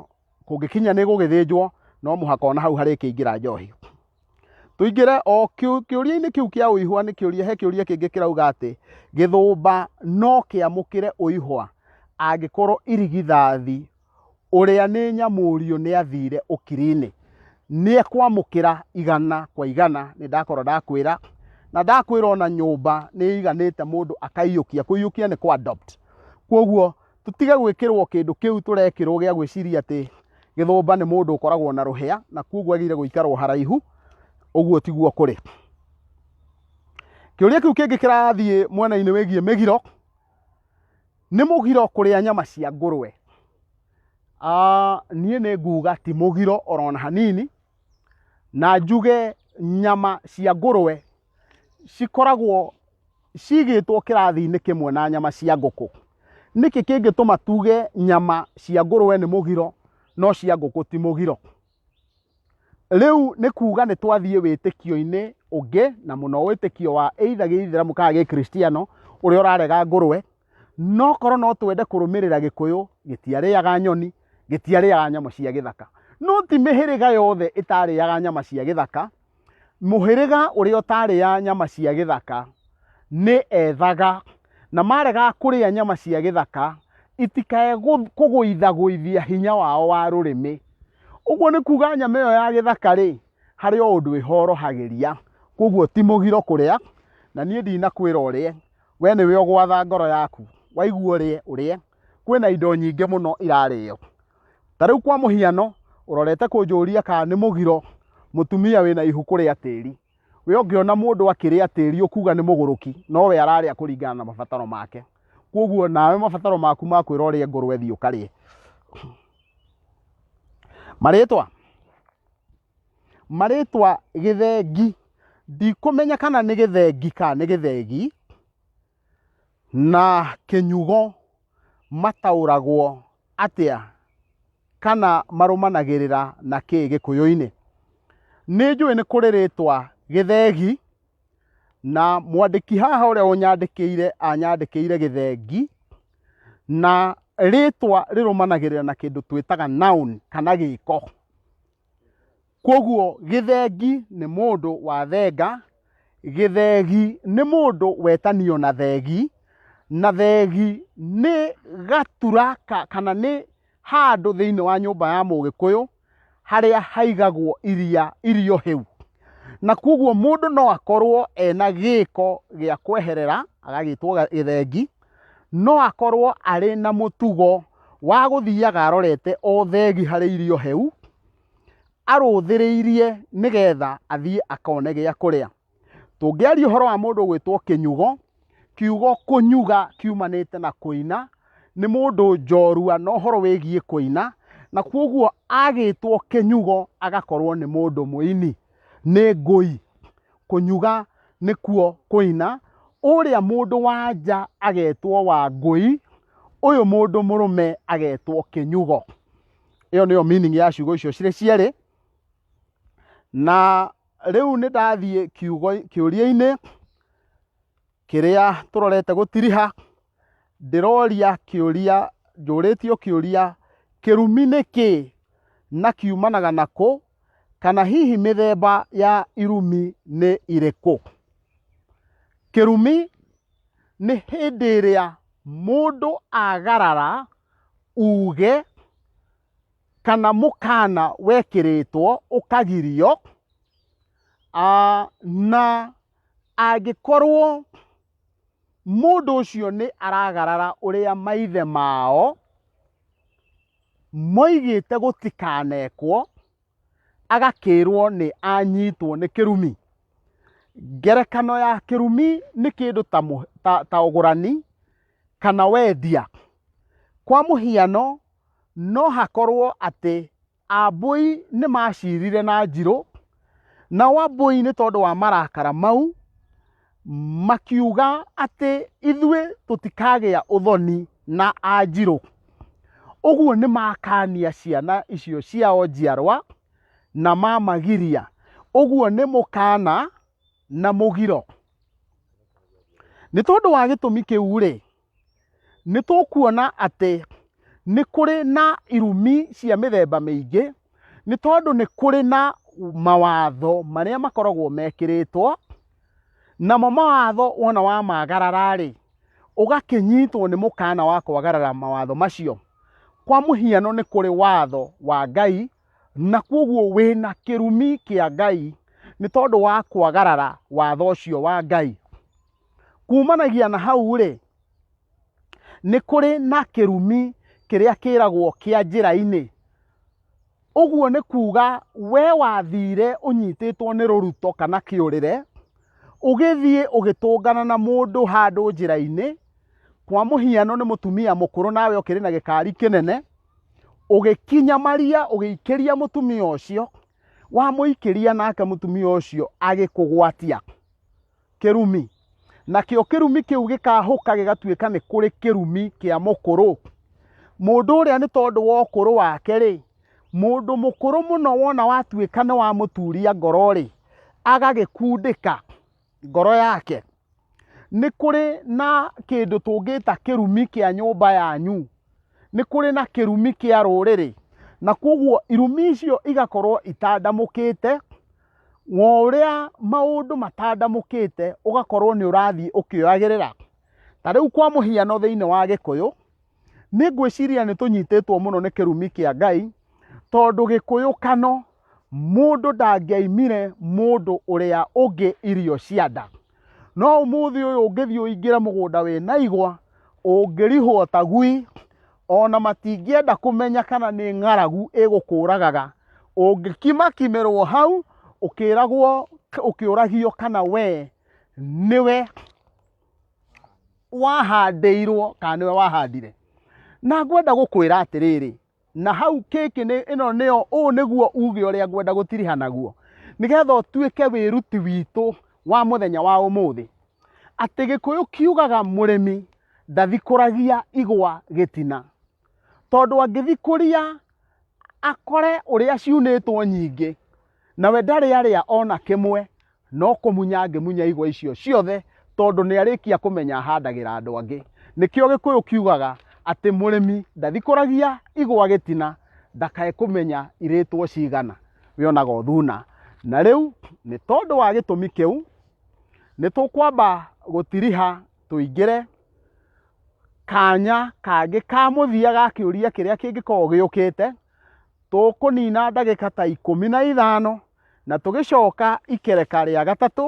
Speaker 1: kũngĩkinya nĩ gũgĩthĩnjwo no mũhaka ona hau harĩkĩingĩra njohi. tũingĩre o kĩũ- kĩũria-inĩ kĩu kĩa ũihwa nĩ kĩũria he kĩũria kĩngĩ kĩrauga atĩ gĩthũmba no kĩamũkĩre ũihwa angĩkorwo irigithathi ũrĩa nĩ nyamũrio nĩ athire ũkiri-inĩ nĩ ekwamũkĩra igana kwa igana nĩ ndakorwo ndakwĩra na ndakwĩra ona nyũmba nĩ ĩiganĩte mũndũ akaiyũkia kũiyũkia nĩ kwa adopt kwoguo tũtige gwĩkĩrwo kĩndũ kĩu tũrekĩrwo gĩa gwĩciria atĩ gĩthũmba nĩ mũndũ ũkoragwo na rũhĩa na kuoguo agĩire gũikarwo haraihu ũguo tiguo kũrĩ kĩũria kĩu kĩngĩ kĩrathiĩ mwena-inĩ wĩgiĩ mĩgiro nĩ mũgiro kũrĩa nyama cia ngũrwe Ah, niĩ nĩ nguga ti mũgiro orona hanini na njuge nyama cia ngũrwe cikoragwo cigĩtwo kĩrathi-inĩ kĩmwe na nyama cia ngũkũ. Nĩkĩ kĩngĩtũma tuge nyama cia ngũrũwe nĩ mũgiro no cia ngũkũ ti mũgiro? Rĩu nĩ kuga nĩ twathiĩ wĩtĩkio-inĩ ũngĩ na mũno wĩtĩkio wa either gĩithĩramu kana gĩkristiano ũrĩa ũrarega ngũrũwe, no korwo no twende kũrũmĩrĩra gĩkũyũ gĩtiarĩaga nyoni, gĩtiarĩaga nyamũ cia gĩthaka. No ti mĩhĩrĩga yothe ĩtarĩaga nyama cia gĩthaka. mũhĩrĩga ũrĩa ũtarĩa nyama cia gĩthaka nĩ ethaga na marega kũrĩa nyama cia gĩthaka itikae gũ- kũgũithagũithia hinya wao wa rũrĩmĩ ũguo nĩ kuga nyama ĩyo ya gĩthaka rĩ harĩ o ũndũ ĩhorohagĩria koguo ti mũgiro kũrĩa na niĩ ndinakwĩra ũrĩe we nĩwe ũgwatha ngoro yaku waigua ũrĩe ũrĩe kwĩna indo nyingĩ mũno irarĩo ta rĩu kwa mũhiano ũrorete kũnjũria kana nĩ mũgiro mũtumia wĩna ihu kũrĩa tĩri we ũngĩona mũndũ akĩrĩa tĩri ũkuga nĩ mũgũrũki nowe ararĩa kũringana na mabataro make kwoguo nawe mabataro maku makwĩra ũrĩa ngũrwe thiĩ ũkarĩe marĩtwa marĩtwa gĩthengi ndikũmenya kana nĩ gĩthengi kana nĩ gĩthegi Na kĩnyugo mataũragwo atĩa kana marũmanagĩrĩra na kĩ gĩkũyũ-inĩ? Nĩ njũĩ nĩ kũrĩ rĩtwa gĩthegi na mwandĩki haha ũrĩa ũnyandĩkĩire anyandĩkĩire gĩthengi na rĩtwa rĩrũmanagĩrĩra na kĩndũ twĩtaga noun kana gĩko. Kwoguo gĩthengi nĩ mũndũ wathenga, gĩthegi nĩ mũndũ wetanio na thegi, na thegi nĩ gatura kana nĩ handũ thĩinĩ wa nyũmba ya mũgĩkũyũ harĩa haigagwo iria irio hĩu. Na kwoguo mũndũ no akorwo ena gĩko gĩa kweherera agagĩtwo gĩthengi no akorwo arĩ na mũtugo wa gũthiaga arorete o thegi harĩ irio heu arũthĩrĩirie nĩgetha athiĩ akone gĩa kũrĩa tũngĩaria ũhoro wa mũndũ gwĩtwo kĩnyugo kiugo kũnyuga kiumanĩte na kũina nĩ mũndũ njorua na ũhoro wĩgiĩ kũina na kwoguo agĩtwo kĩnyugo agakorwo nĩ mũndũ mũini nĩ ngũi, kũnyuga nĩkuo kũina, ũrĩa mũndũ wa nja agetwo Wangũi, ũyũ mũndũ mũrũme agetwo Kĩnyugo. Ĩyo nĩyo meaning ya ciugo icio cirĩ cierĩ, na rĩu nĩ ndathiĩ kiugo kĩũria-inĩ kĩrĩa tũrorete gũtiriha. ndĩroria kĩũria njũrĩtio kĩũria kĩrumi nĩ kĩ na kiumanaga na kũ kana hihi mĩthemba ya irumi nĩ irĩkũ kĩrumi nĩ hĩndĩ ĩrĩa mũndũ agarara uge kana mũkana wekĩrĩtwo ũkagirio na angĩkorwo mũndũ ũcio nĩ aragarara ũrĩa maithe mao moigĩte gũtikanekwo agakĩrwo nĩ anyitwo nĩ kĩrumi ngerekano ya kĩrumi nĩ kĩndũ ta, mũ- ta, ta ũgũrani kana wendia kwa mũhiano no hakorwo atĩ Ambũi nĩmaciirire na njirũ, nao Ambũi nĩ tondũ wa marakara mau makiuga atĩ ithuĩ tũtikagĩa ũthoni na Anjirũ. Ũguo nĩmakania ciana icio ciao njiarwa na mamagiria. Ũguo nĩ mũkana na mũgiro. Nĩ tondũ wa gĩtũmi kĩu-rĩ, nĩ tũkuona atĩ nĩ kũrĩ na irumi cia mĩthemba mĩingĩ, nĩ tondũ nĩ kũrĩ na mawatho marĩa makoragwo mekĩrĩtwo, namo mawatho wona wamagarara-rĩ, ũgakĩnyitwo nĩ mũkana wa kwagarara mawatho macio. Kwa mũhiano nĩ kũrĩ watho wa Ngai, na kũguo wĩna kĩrumi kĩa Ngai nĩ tondũ wa kwagarara watho ũcio wa Ngai. Kuumanagia na hau-rĩ, nĩ kũrĩ na kĩrumi kĩrĩa kĩragwo kĩa njĩra-inĩ. Ũguo nĩ kuuga we wathire ũnyitĩtwo nĩ rũruto kana kĩũrĩre, ũgĩthiĩ ũgĩtũngana na mũndũ handũ njĩra-inĩ, kwa mũhiano nĩ mũtumia mũkũrũ nawe ũkĩrĩ na gĩkari kĩnene, ũgĩkinyamaria ũgĩikĩria mũtumia ũcio, wamũikĩria nake mũtumia ũcio agĩkũgwatia. kĩrumi nakĩo kĩrumi kĩu gĩkahũka gĩgatuĩka nĩ kũrĩ kĩrumi kĩa mũkũrũ mũndũ ũrĩa nĩ tondũ wa ũkũrũ wake rĩ mũndũ mũkũrũ mũno wona watuĩka nĩ wamũturia ngoro rĩ agagĩkundĩka ngoro yake nĩ kũrĩ na kĩndũ tũngĩta kĩrumi kĩa nyũmba yanyu nĩ kũrĩ na kĩrumi kĩa rũrĩrĩ na kwoguo irumi icio igakorwo itandamũkĩte wa ũrĩa maũndũ matandamũkĩte ũgakorwo nĩ ũrathiĩ ũkĩoyagĩrĩra ta rĩu kwa mũhiano thĩinĩ wa gĩkũyũ nĩ ngwĩciria nĩ tũnyitĩtwo mũno nĩ kĩrumi kĩa ngai tondũ gĩkũyũ kano mũndũ ndangĩaimire mũndũ ũrĩa ũngĩ irio cia nda no ũmũthĩ ũyũ ũngĩthiĩ ũingĩre mũgũnda wĩ na igwa ũngĩrihwo ta gui ona matingĩenda kũmenya kana nĩ ng'aragu ĩgũkũragaga ũngĩkimakimĩrwo hau ũkĩragwo ũkĩũragio kana wee nĩwe wahandĩirwo kana nĩwe wahandire na ngwenda gũkwĩra atĩrĩrĩ na hau kĩkĩ nĩ ĩno nĩyo ũũ nĩguo uge ũrĩa ngwenda gũtiriha naguo nĩgetha ũtuĩke wĩruti witũ wa mũthenya wa ũmũthĩ atĩ gĩkũyũ kiugaga mũrĩmi ndathikũragia igwa gĩtina tondũ angĩthikũria akore ũrĩa ciunĩtwo nyingĩ nawe ndarĩ arĩa ona kĩmwe No kũmunya angĩmunya igwa icio ciothe tondũ nĩ arĩkia kũmenya ahandagĩra andũ angĩ. Nĩkĩo Gĩkũyũ kiugaga atĩ mũrĩmi ndathikũragia igwa gĩtina ndakae kũmenya irĩtwo cigana we onaga o thuna. Na rĩu nĩ tondũ wa gĩtũmi kĩu nĩ tũkwamba gũtiriha tũingĩre kanya kangĩ ka mũthia ga kĩũria kĩrĩa kĩngĩkorwo gĩũkĩte. Tũkũnina ndagĩka ta ikũmi na ithano na tũgĩcoka ikereka rĩa gatatũ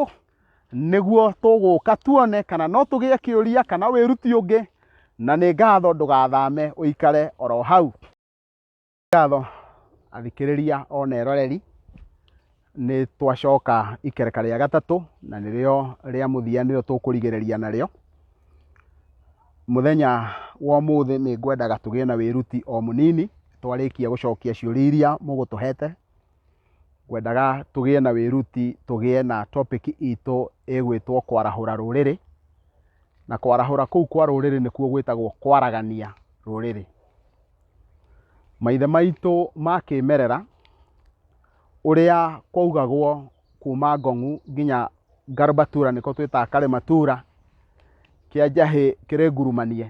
Speaker 1: nĩguo tũgũka tuone kana no tũgĩe kĩũria kana wĩruti ũngĩ na nĩ ngatho ndũgathame ũikare oro hau ngatho athikĩrĩria ona eroreri nĩ twacoka ikereka rĩa gatatũ na nĩrĩo rĩa mũthia nĩrĩo tũkũrigĩrĩria narĩo mũthenya wa ũmũthĩ nĩ ngwendaga tũgĩe na wĩruti o mũnini twarĩkia gũcokia ciũria iria mũgũtũhete. ngwendaga tũgĩe na wĩruti tũgĩe na topic itũ ĩgwĩtwo kwarahũra rũrĩrĩ, na kwarahũra kũu kwa rũrĩrĩ nĩkuo gwĩtagwo kwaragania rũrĩrĩ. Maithe maitũ ma kĩmerera ũrĩa kwaugagwo kuma Ngong'u nginya Ngarbatura nĩko twĩtaga Karĩmatura kĩa njahĩ kĩrĩ Ngurumanie,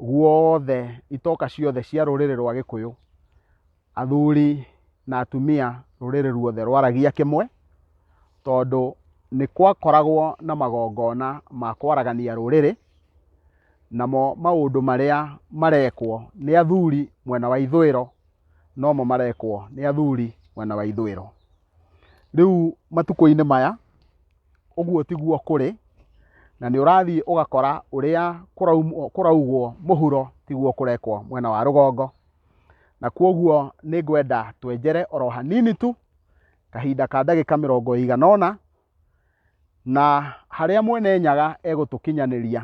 Speaker 1: guothe itoka ciothe cia rũrĩrĩ rwa Gĩkũyũ athuri na atumia rũrĩrĩ ruothe rwaragia kĩmwe, tondũ nĩ gwakoragwo na magongona ma kwaragania rũrĩrĩ, namo maũndũ marĩa marekwo nĩ athuri mwena wa ithũĩro nomo marekwo nĩ athuri mwena wa ithũĩro. Rĩu matukũ-inĩ maya ũguo tiguo kũrĩ, na nĩ ũrathiĩ ũgakora ũrĩa kũraugwo mũhuro tiguo kũrekwo mwena wa rũgongo. na kwoguo nĩ ngwenda twenjere oro hanini tu kahinda ka ndagĩka mĩrongo ĩigana ũna na harĩa mwene nyaga egũtũkinyanĩria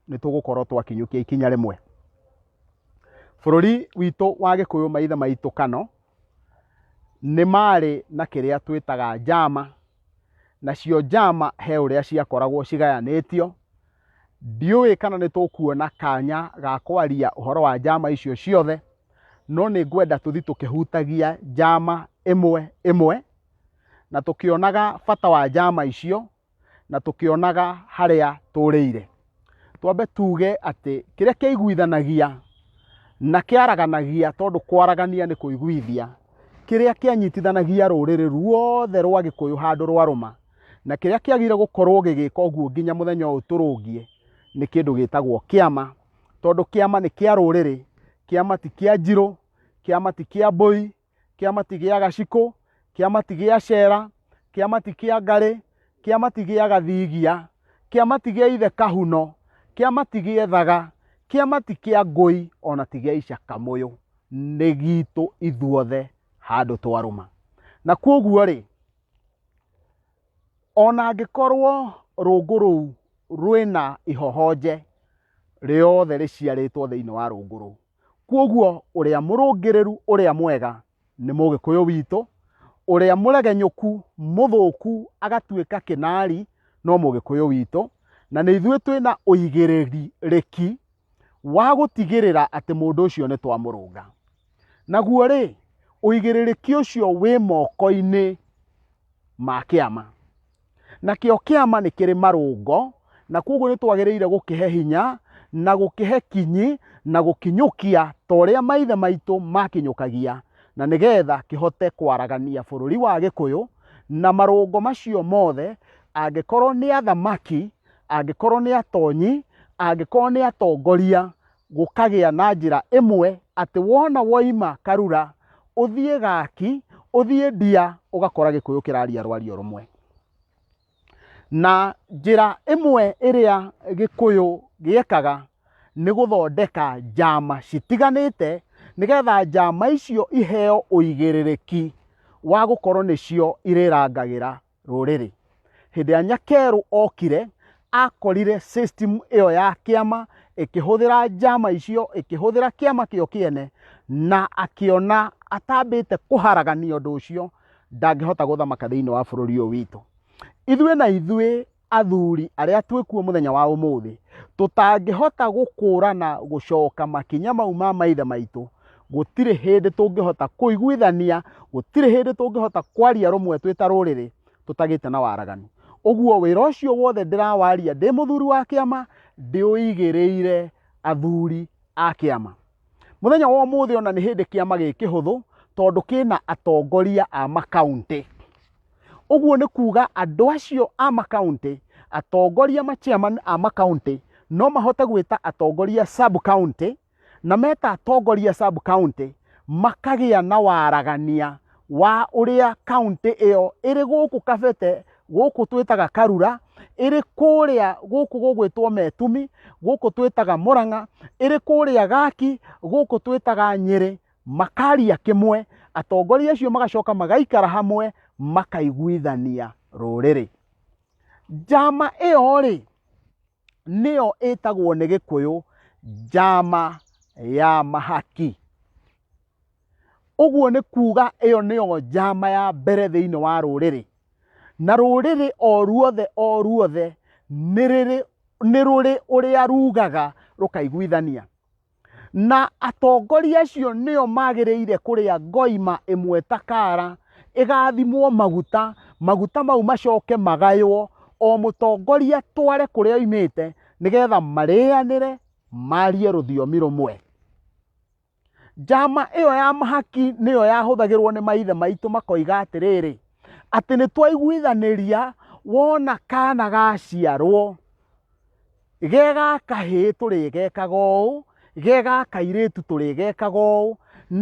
Speaker 1: nĩ tũgũkorwo twakinyũkia ikinya rĩmwe bũrũri witũ wa gĩkũyũ maithe maitũ kano nĩ marĩ na kĩrĩa twĩtaga njama nacio njama he ũrĩa ciakoragwo cigayanĩtio Ndiũĩ kana nĩ tũkuona kanya ga kwaria ũhoro wa njama icio ciothe, no nĩ ngwenda tũthi tũkĩhutagia njama ĩmwe ĩmwe, na tũkĩonaga bata wa njama icio, na tũkĩonaga harĩa tũrĩire. Twambe tuge atĩ kĩrĩa kĩaiguithanagia na kĩaraganagia, tondũ kwaragania nĩ kũiguithia, kĩrĩa kĩanyitithanagia rũrĩrĩ ruothe rwa Gĩkũyũ handũ rwarũma, na kĩrĩa kĩagĩrĩire gũkorwo gĩgĩka ũguo nginya mũthenya ũyũ tũrũngiĩ nĩ kĩndũ gĩtagwo kĩama tondũ kĩama nĩ kĩa rũrĩrĩ kĩama ti kĩa njirũ kĩama ti kĩa mbũi kĩama ti gĩa gacikũ kĩama ti gĩa cera kĩama ti kĩa ngarĩ kĩama ti gĩa gathigia kĩama ti gĩa ithe kahuno kĩama ti gĩa ethaga kĩama ti kĩa ngũi ona ti gĩa icakamũyũ nĩ gitũ ithuothe handũ twarũma na kwoguo rĩ Ona angĩkorwo rũngũ rũu rwĩna ihohonje rĩothe rĩciarĩtwo thĩinĩ wa rũngũ rũu. Kwoguo ũrĩa mũrũngĩrĩru ũrĩa mwega nĩ mũgĩkũyũ witũ, ũrĩa mũregenyũku mũthũku agatuĩka kĩnari no mũgĩkũyũ witũ, na nĩ ithuĩ twĩna ũigĩrĩrĩki. wa gũtigĩrĩra atĩ mũndũ ũcio nĩ twamũrũnga naguo rĩ ũigĩrĩrĩki ũcio wĩ moko-inĩ ma kĩama nakĩo kĩama nĩ kĩrĩ marũngo na kwoguo nĩ twagĩrĩire gũkĩhe hinya na gũkĩhe kinyi na gũkinyũkia ta ũrĩa maithe maitũ makinyũkagia na nĩgetha kĩhote kwaragania bũrũri wa gĩkũyũ na marũngo macio mothe angĩkorwo nĩ athamaki angĩkorwo nĩ atonyi angĩkorwo nĩ atongoria gũkagĩa na njĩra ĩmwe atĩ wona woima karura ũthiĩ gaki ũthiĩ ndia ũgakora gĩkũyũ kĩraria rwario rũmwe na njĩra ĩmwe ĩrĩa gĩkũyũ gĩekaga nĩ gũthondeka njama citiganĩte nĩgetha njama icio iheo ũigĩrĩrĩki wa gũkorwo nĩcio irĩrangagĩra rũrĩrĩ. Hĩndĩ ĩrĩa Nyakeru okire akorire system ĩyo ya kĩama ĩkĩhũthĩra njama icio ĩkĩhũthĩra kĩama kĩo kĩene na akĩona atambĩte kũharagania ũndũ ũcio ndangĩhota gũthamaka thĩinĩ wa bũrũri ũyũ witũ ithuĩ na ithuĩ athuri arĩa twĩkuo mũthenya wa ũmũthĩ tũtangĩhota gũkũrana gũcoka makinya mau ma maithe maitũ gũtirĩ hĩndĩ tũngĩhota kũiguithania gũtirĩ hĩndĩ tũngĩhota kwaria rũmwe twĩ ta rũrĩrĩ tũtagĩte na waraganu ũguo wĩra ũcio wothe ndĩrawaria ndĩ mũthuri wa kĩama ndĩũigĩrĩire athuri a kĩama mũthenya wa ũmũthĩ ona nĩ hĩndĩ kĩama gĩ kĩhũthũ tondũ kĩna atongoria a makaunti ũguo nĩ kuga andũ acio a makaunti atongoria machairman a makaunti no mahote gwĩta atongoria sub county na meta atongoria sub county makagĩa na waragania wa ũrĩa kaunti ĩyo ĩrĩ gũkũ kabete gũkũ twĩtaga karura ĩrĩ kũrĩa gũkũ gũgwĩtwo metumi gũkũ twĩtaga mũrang'a ĩrĩ kũrĩa gaki gũkũ twĩtaga nyĩrĩ makaria kĩmwe atongoria acio magacoka magaikara hamwe makaiguithania rũrĩrĩ njama ĩyo rĩ nĩyo ĩtagwo nĩ gĩkũyũ njama ya mahaki ũguo nĩ kuuga ĩyo nĩyo njama ya mbere thĩinĩ wa rũrĩrĩ na rũrĩrĩ o ruothe o ruothe nĩ rũrĩ ũrĩa rugaga rũkaiguithania na atongoria acio nĩo magĩrĩire kũrĩa ngoima ĩmwe ta kara ĩgathimwo maguta maguta mau macoke magaywo o mũtongoria tware kũrĩa oimĩte nĩgetha marĩanĩre marie rũthiomi rũmwe njama ĩyo ya mahaki nĩyo yahũthagĩrwo nĩ maithe maitũ makoiga atĩrĩrĩ atĩ nĩ twaiguithanĩria wona kana gaciarwo ge gaka hĩ tũrĩgekaga ũũ ge gaka irĩtu tũrĩgekaga ũũ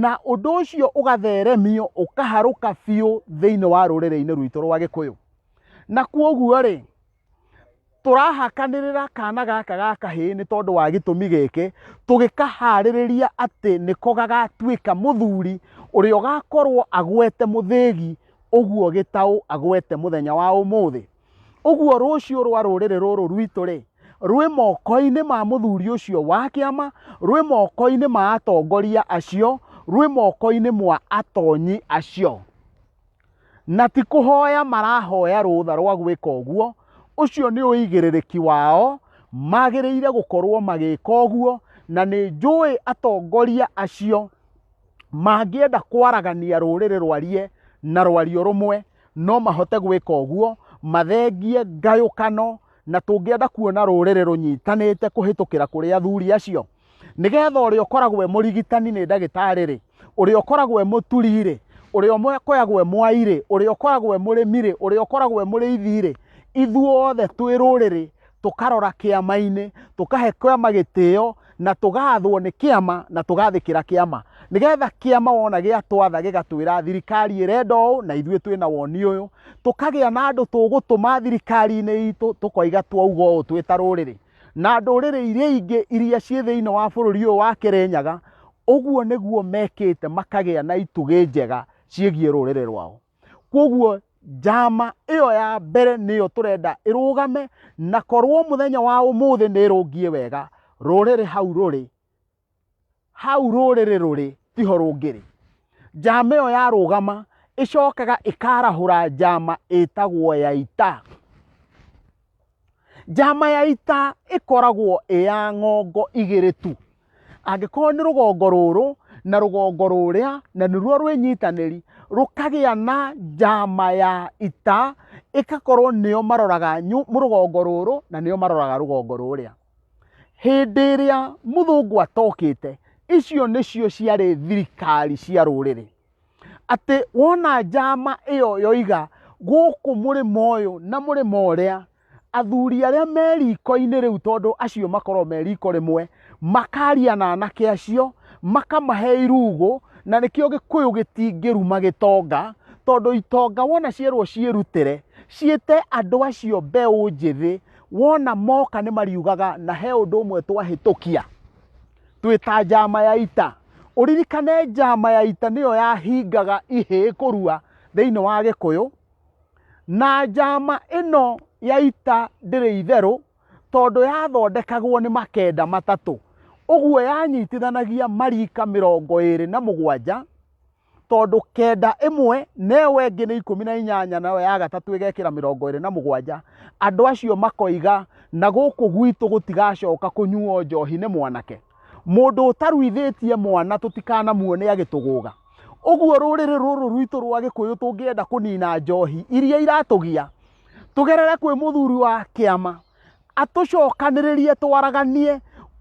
Speaker 1: na ũndũ ũcio ũgatheremio ũkaharũka biũ thĩinĩ wa rũrĩrĩ-inĩ rwitũ rwa gĩkũyũ na kuoguo rĩ tũrahakanĩrĩra kana gaka ga kahĩĩ nĩ tondũ wa gĩtũmi gĩkĩ tũgĩkaharĩrĩria atĩ nĩko gagatuĩka mũthuri ũrĩa ũgakorwo agwete mũthĩgi ũguo gĩtaũ agwete mũthenya wa ũmũthĩ ũguo rũciũ rwa rũrĩrĩ rũrũ rwitũ rĩ rwĩ moko-inĩ ma mũthuri ũcio wa kĩama rwĩ moko-inĩ ma atongoria acio rwĩ moko-inĩ mwa atonyi acio na ti kũhoya marahoya rũtha rwa gwĩka ũguo ũcio nĩ ũigĩrĩrĩki wao magĩrĩire gũkorwo magĩka ũguo na nĩ njũĩ atongoria acio mangĩenda kwaragania rũrĩrĩ rwarie na rwario rũmwe no mahote gwĩka ũguo mathengie ngayũkano na tũngĩenda kuona rũrĩrĩ rũnyitanĩte kũhĩtũkĩra kũrĩ athuri acio nĩgetha ũrĩa ũkoragwo e mũrigitani nĩ ndagĩtarĩ-rĩ ũrĩa ũkoragwo e mũturi-rĩ ũrĩa ũkoragwo e mwairĩ ũrĩa ũkoragwo e mũrĩmi-rĩ ũrĩa ũkoragwo e mũrĩithi-rĩ ithuothe twĩ rũrĩrĩ tũkarora kĩama-inĩ tũkahe kĩama gĩtĩo na tũgathwo nĩ kĩama na tũgathĩkĩra kĩama nĩgetha kĩama wona gĩatwatha gĩgatwĩra thirikari ĩrenda ũũ na ithuĩ twĩna woni ũyũ tũkagĩa na andũ tũgũtũma thirikari-inĩ itũ tũkoiga twauga ũũ twĩ ta rũrĩrĩ na ndũrĩrĩ iria ingĩ iria ciĩ thĩinĩ wa bũrũri ũyũ wa Kĩrĩnyaga ũguo nĩguo mekĩte makagĩa na itugĩ njega ciĩgiĩ rũrĩrĩ rwao. Kwoguo njama ĩyo ya mbere nĩyo tũrenda ĩrũgame na korwo mũthenya wa ũmũthĩ nĩ ĩrũngie wega rũrĩrĩ hau rũrĩ hau rũrĩrĩ rũrĩ tiho rũngĩrĩ njama ĩyo yarũgama ĩcokaga ĩkarahũra njama ĩtagwo ya ita Njama ya ita ĩkoragwo ĩ ya ng'ongo igĩrĩ tu. Angĩkorwo nĩ rũgongo rũrũ na rũgongo rũrĩa na nĩruo rwĩnyitanĩri, rũkagĩa na njama ya ita, ĩgakorwo nĩo maroraga rũgongo rũrũ na nĩo maroraga rũgongo rũrĩa. Hĩndĩ ĩrĩa mũthũngũ atokĩte, icio nĩcio ciarĩ thirikari cia rũrĩrĩ. atĩ wona njama ĩyo yoiga gũkũ mũrĩma ũyũ na mũrĩma ũrĩa athuri arĩa me riko-inĩ rĩu tondũ acio makorwo me riko rĩmwe makaria na anake acio makamahe irugũ na nĩkĩo gĩkũyũ gĩtingĩruma gĩtonga tondũ itonga wona cierwo ciĩrutĩre ciĩte andũ acio mbeũ njĩthĩ wona moka nĩ mariugaga na he ũndũ ũmwe twahĩtũkia. twĩ ta njama ya ita ũririkane njama ya ita nĩyo yahingaga ihĩĩ kũrua thĩinĩ wa gĩkũyũ na njama ĩno ya ita ndĩrĩ itherũ tondũ yathondekagwo nĩ makenda matatũ ũguo yanyitithanagia marika mĩrongo ĩrĩ na mũgwanja tondũ kenda ĩmwe na ĩyo ĩngĩ nĩ ikũmi na inyanya nayo ya gatatũ ĩgekĩra mĩrongo ĩrĩ na mũgwanja andũ acio makoiga na gũkũ gwitũ gũtigacoka kũnyuo njohi nĩ mwanake mũndũ ũtaruithĩtie mwana tũtikanamuone agĩtũgũga ũguo rũrĩrĩ rũrũ rwitũ rwa gĩkũyũ tũngĩenda kũnina njohi iria iratũgia tũgerere kwĩ mũthuri wa kĩama atũcokanĩrĩrie twaraganie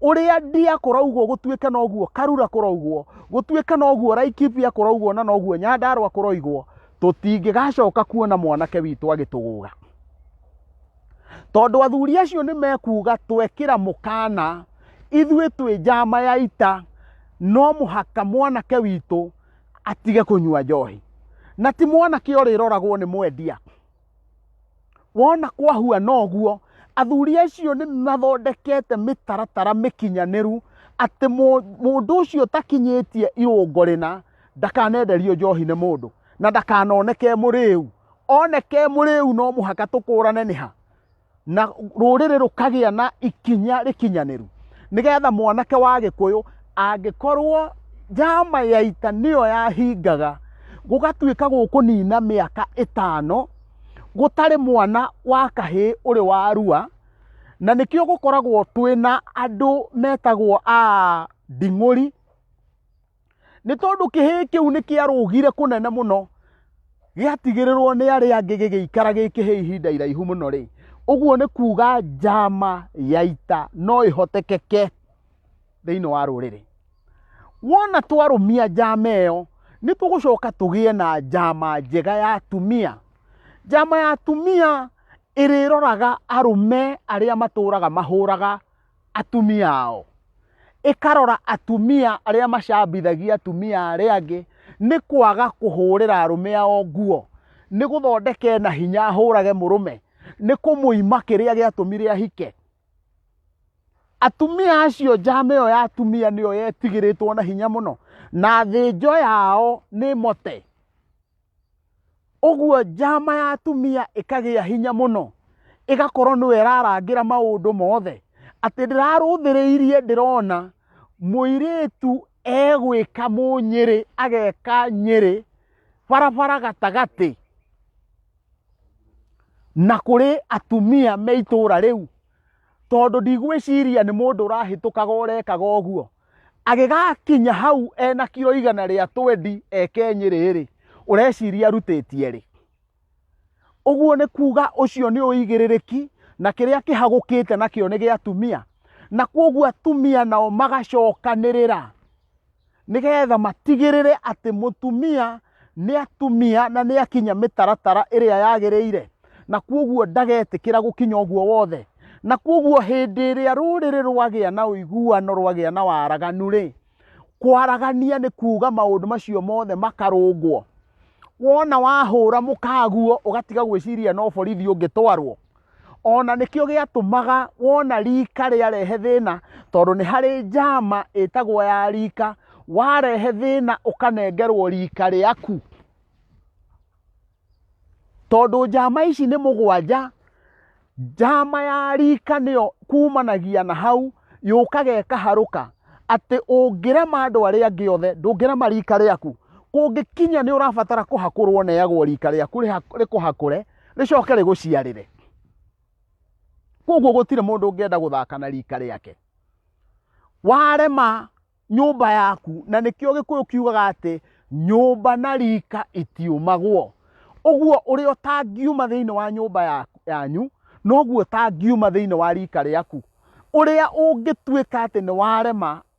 Speaker 1: ũrĩa ndia kũraugwo gũtuĩke noguo karura kũraugwo gũtuĩke noguo raikibia kũraugwo na noguo nyandarwa kũroigwo tũtingĩgacoka kuona mwanake witũ agĩtũgũga tondũ athuri acio nĩ mekuga twekĩra mũkana ithuĩ twĩ njama ya ita no mũhaka mwanake witũ atige kũnyua njohi na ti mwanake ũrĩroragwo nĩ mwendia wona kwahuana ũguo athuri acio nĩ mathondekete mĩtaratara mĩkinyanĩru atĩ mũ- mũndũ ũcio ũtakinyĩtie irũngo rĩna ndakanenderio njohi nĩ mũndũ na ndakanoneke mũrĩu oneke mũrĩu no mũhaka tũkũrane nĩ ha na rũrĩrĩ rũkagĩa na ikinya rĩkinyanĩru nĩgetha mwanake wa gĩkũyũ angĩkorwo njama ya ita nĩyo yahingaga gũgatuĩka gũkũnina mĩaka ĩtano gũtarĩ mwana wa kahĩĩ ũrĩ wa rua na nĩkĩo gũkoragwo twĩna andũ metagwo a nding'ũri nĩ tondũ kĩhĩĩ kĩu nĩ kĩarũgire kũnene mũno gĩatigĩrĩrwo nĩ arĩa angĩ gĩgĩikara gĩ kĩhĩĩ ihinda iraihu mũno rĩ ũguo nĩ kuuga njama ya ita no ĩhotekeke thĩinĩ wa rũrĩrĩ wona twarũmia njama ĩyo nĩ tũgũcoka tũgĩe na njama njega ya atumia njama ya atumia ĩrĩroraga arũme arĩa matũraga mahũraga atumia ao ĩkarora atumia arĩa macambithagia atumia arĩa angĩ nĩ kwaga kũhũrĩra arũme ao nguo nĩ gũthondeke na hinya ahũrage mũrũme nĩ kũmũima kĩrĩa gĩatũmire ahike atumia acio njama ĩyo ya atumia nĩyo yetigĩrĩtwo na hinya mũno na thĩnjo yao nĩ mote Ũguo njama ya atumia ĩkagĩa hinya mũno, ĩgakorwo nĩwe ĩrarangĩra maũndũ mothe, atĩ ndĩrarũthĩrĩirie ndĩrona mũirĩtu egwĩka mũnyĩrĩ, ageka nyĩrĩ barabara gatagatĩ, na kũrĩ atumia me itũra rĩu, tondũ ndigwĩciria nĩ mũndũ ũrahĩtũkaga ũrekaga ũguo. agĩgakinya hau ena kiro igana rĩa twendi eke nyĩrĩ-rĩ ũreciria arutĩtie rĩ ũguo nĩ kuga ũcio nĩ ũigĩrĩrĩki na kĩrĩa kĩhagũkĩte nakĩo nĩ gĩa atumia na kwoguo atumia nao magacokanĩrĩra nĩgetha matigĩrĩre atĩ mũtumia nĩ atumia na nĩ akinya mĩtaratara ĩrĩa yagĩrĩire na kuoguo ndagetĩkĩra gũkinya ũguo wothe na kuoguo hĩndĩ ĩrĩa rũrĩrĩ rwagĩa na ũiguano rwagĩa na waraganu rĩ kwaragania nĩ kuuga maũndũ macio mothe makarũngwo wona wahũra mũkaguo ũgatiga gwĩciria no borithi ũngĩtwarwo ona nĩkĩo gĩatũmaga wona rika rĩarehe thĩna tondũ nĩ harĩ njama ĩtagwo ya rika warehe thĩna ũkanengerwo rika rĩaku tondũ njama ici nĩ mũgwanja njama ya rika nĩyo kumanagia na hau yũkaga ĩkaharũka atĩ ũngĩrema andũ arĩa angĩ othe ndũngĩrema rika rĩaku kũngĩkinya nĩ ũrabatara kũhakũrwo neagwo rika rĩaku rĩkũhakũre rĩcoke rĩgũciarĩre koguo gũtirĩ mũndũ ũngĩenda gũthaka na rika rĩake warema nyũmba yaku na nĩkĩo gĩkũyũ kiugaga atĩ nyũmba na rika itiumagwo ũguo ũrĩa ũtangiuma thĩinĩ wa nyũmba ya- yanyu noguo ũtangiuma thĩinĩ wa rika rĩaku ũrĩa ũngĩtuĩka atĩ nĩ warema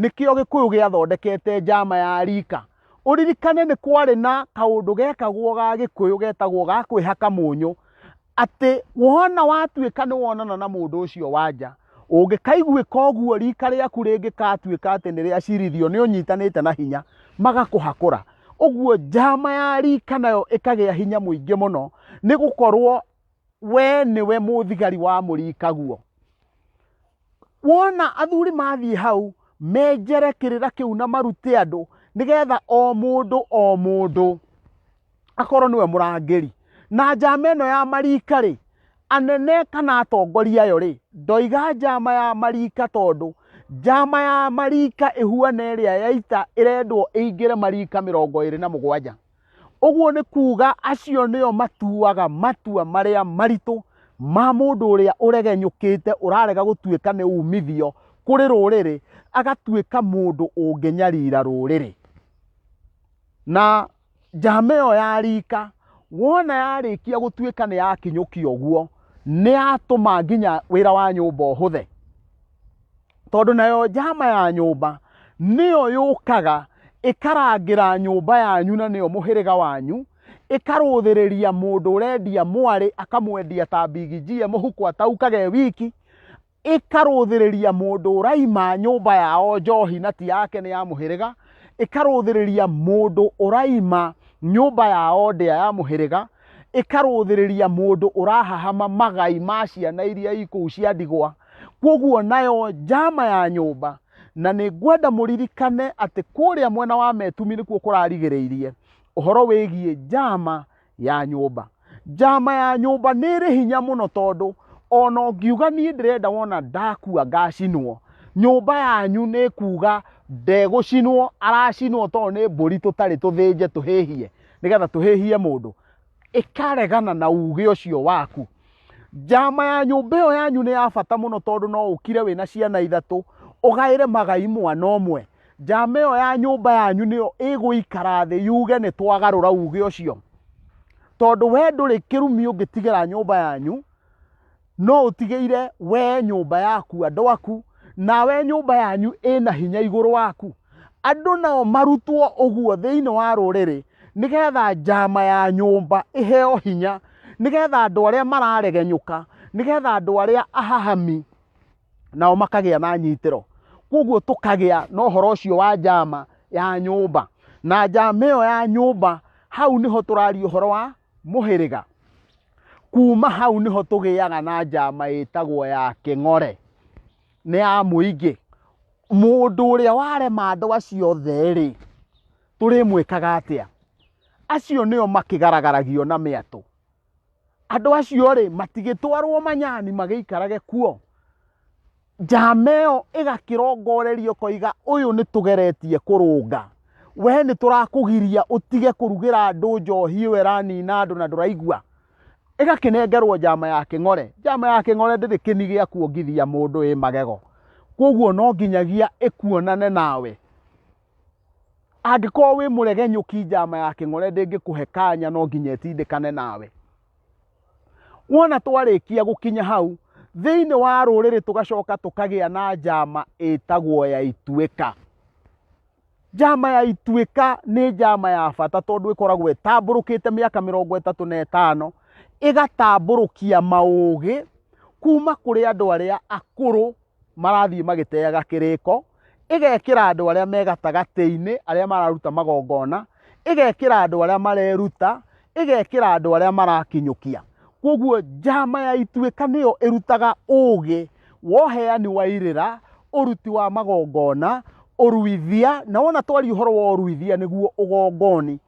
Speaker 1: nĩkĩo gĩkũyũ gĩathondekete njama ya rika ũririkane nĩ kwarĩ na kaũndũ gekagwo ga gĩkũyũ getagwo ga kwĩhaka mũnyũ atĩ wona watuĩka nĩ wonana na mũndũ ũcio wanja ũngĩkaiguĩka ũguo rika rĩaku rĩngĩkatuĩka atĩ nĩ rĩacirithio nĩ ũnyitanĩte na hinya magakũhakũra ũguo njama ya rika nayo ĩkagĩa hinya mũingĩ mũno nĩ gũkorwo we nĩwe mũthigari wa mũrikaguo wona athuri mathiĩ hau menjere kĩrĩra kĩu na marute andũ nĩgetha o mũndũ o mũndũ akorwo nĩwe mũrangĩri na njama ĩno ya marika rĩ anene kana atongoria ayo rĩ ndoiga njama ya marika tondũ njama ya marika ĩhuana ĩrĩa yaita ĩrendwo ĩingĩre marika mĩrongo ĩrĩ na mũgwanja Ũguo nĩ kuuga acio nĩo matuaga matua marĩa maritũ ma mũndũ ũrĩa ũregenyũkĩte ũrarega gũtuĩka nĩ umithio kũrĩ rũrĩrĩ agatuĩka mũndũ ũngĩnyarira rũrĩrĩ. Na njama ĩyo ya rika wona yarĩkia gũtuĩka nĩ yakinyũkia ũguo nĩ yatũma nginya wĩra wa nyũmba ũhũthe. tondũ nayo njama ya nyũmba nĩyo yũkaga ĩkarangĩra nyũmba yanyu na nĩyo mũhĩrĩga wanyu ĩkarũthĩrĩria mũndũ ũrendia mwarĩ akamwendia ta mbigijie mũhuko ataukage wiki ĩkarũthĩrĩria mũndũ ũraima nyũmba yao njohi na ti yake nĩ ya mũhĩrĩga ĩkarũthĩrĩria mũndũ ũraima nyũmba yao ndĩa ya mũhĩrĩga ĩkarũthĩrĩria mũndũ ũrahahama magai ma ciana iria ikũu cia ndigwa kwoguo nayo njama ya nyũmba na nĩ ngwenda mũririkane atĩ kũrĩa mwena wa metumi nĩkuo kũrarigĩrĩirie ũhoro wĩgiĩ njama ya nyũmba njama ya nyũmba nĩ ĩrĩ hinya mũno tondũ ona ũngiuga niĩ ndĩrenda wona ndakua ngacinwo nyũmba yanyu nĩ kuga ndegũcinwo aracinwo tondũ nĩ mbũri tũtarĩ tũthĩnje tũhĩhie nĩgetha tũhĩhie mũndũ ĩkaregana na uge ũcio waku njama ya nyũmba ĩyo yanyu nĩ ya bata mũno tondũ no ũkire wĩna ciana ithatũ ũgaĩre magai mwana ũmwe njama ĩyo ya nyũmba yanyu nĩyo ĩgũikara thĩ yuge nĩ twagarũra uge ũcio tondũ we ndũrĩ kĩrumi ũngĩtigĩra nyũmba yanyu no ũtigĩire wee nyũmba yaku andũ aku nawe nyũmba yanyu ĩna hinya igũrũ waku andũ nao marutwo ũguo thĩinĩ wa rũrĩrĩ nĩgetha njama ya nyũmba ĩheo hinya nĩgetha andũ arĩa mararegenyũka nĩgetha andũ arĩa ahahami nao makagĩa na nyitĩro koguo tũkagĩa na ũhoro ũcio wa njama ya nyũmba na njama ĩyo ya nyũmba hau nĩho tũraria ũhoro wa mũhĩrĩga. Kuma hau nĩho tũgĩaga na njama ĩtagwo ya kĩng'ore, nĩ ya mũingĩ. Mũndũ ũrĩa warema andũ acio othe rĩ, tũrĩmwĩkaga atĩa? Acio nĩo makĩgaragaragio na mĩatũ. Andũ acio rĩ, matigĩtwarwo manyani magĩikarage kuo. Njama ĩyo ĩgakĩrongorerio koiga ũyũ nĩ tũgeretie kũrũnga. We nĩ tũrakũgiria ũtige kũrugĩra andũ njohi ĩyo ĩranina andũ na ndũraigua. Ĩgakĩnengerwo njama ya kĩng'ore. Njama ya kĩng'ore ndĩrĩ kĩni gĩa kuongithia mũndũ ĩ magego. Kwoguo no nginyagia ĩkuonane nawe. Angĩkorwo wĩ mũregenyũki njama ya kĩng'ore ndĩngĩkũhe kanya no nginya ĩtindĩkane nawe. wona twarĩkia gũkinya hau thĩinĩ wa rũrĩrĩ tũgacoka tũkagĩa na njama ĩtagwo ya ituĩka njama ya ituĩka nĩ njama ya bata tondũ ĩkoragwo ĩtambũrũkĩte mĩaka mĩrongo ĩtatũ na ĩtano ĩgatambũrũkia maũgĩ kuma kũrĩ andũ arĩa akũrũ marathiĩ magĩteaga kĩrĩko ĩgekĩra andũ arĩa me gatagatĩ-inĩ arĩa mararuta magongona ĩgekĩra andũ arĩa mareruta ĩgekĩra andũ arĩa marakinyũkia koguo njama ya ituĩka nĩyo ĩrutaga ũũgĩ woheani wa irĩra ũruti wa magongona ũruithia na wona twari ũhoro wa ũruithia nĩguo ũgongoni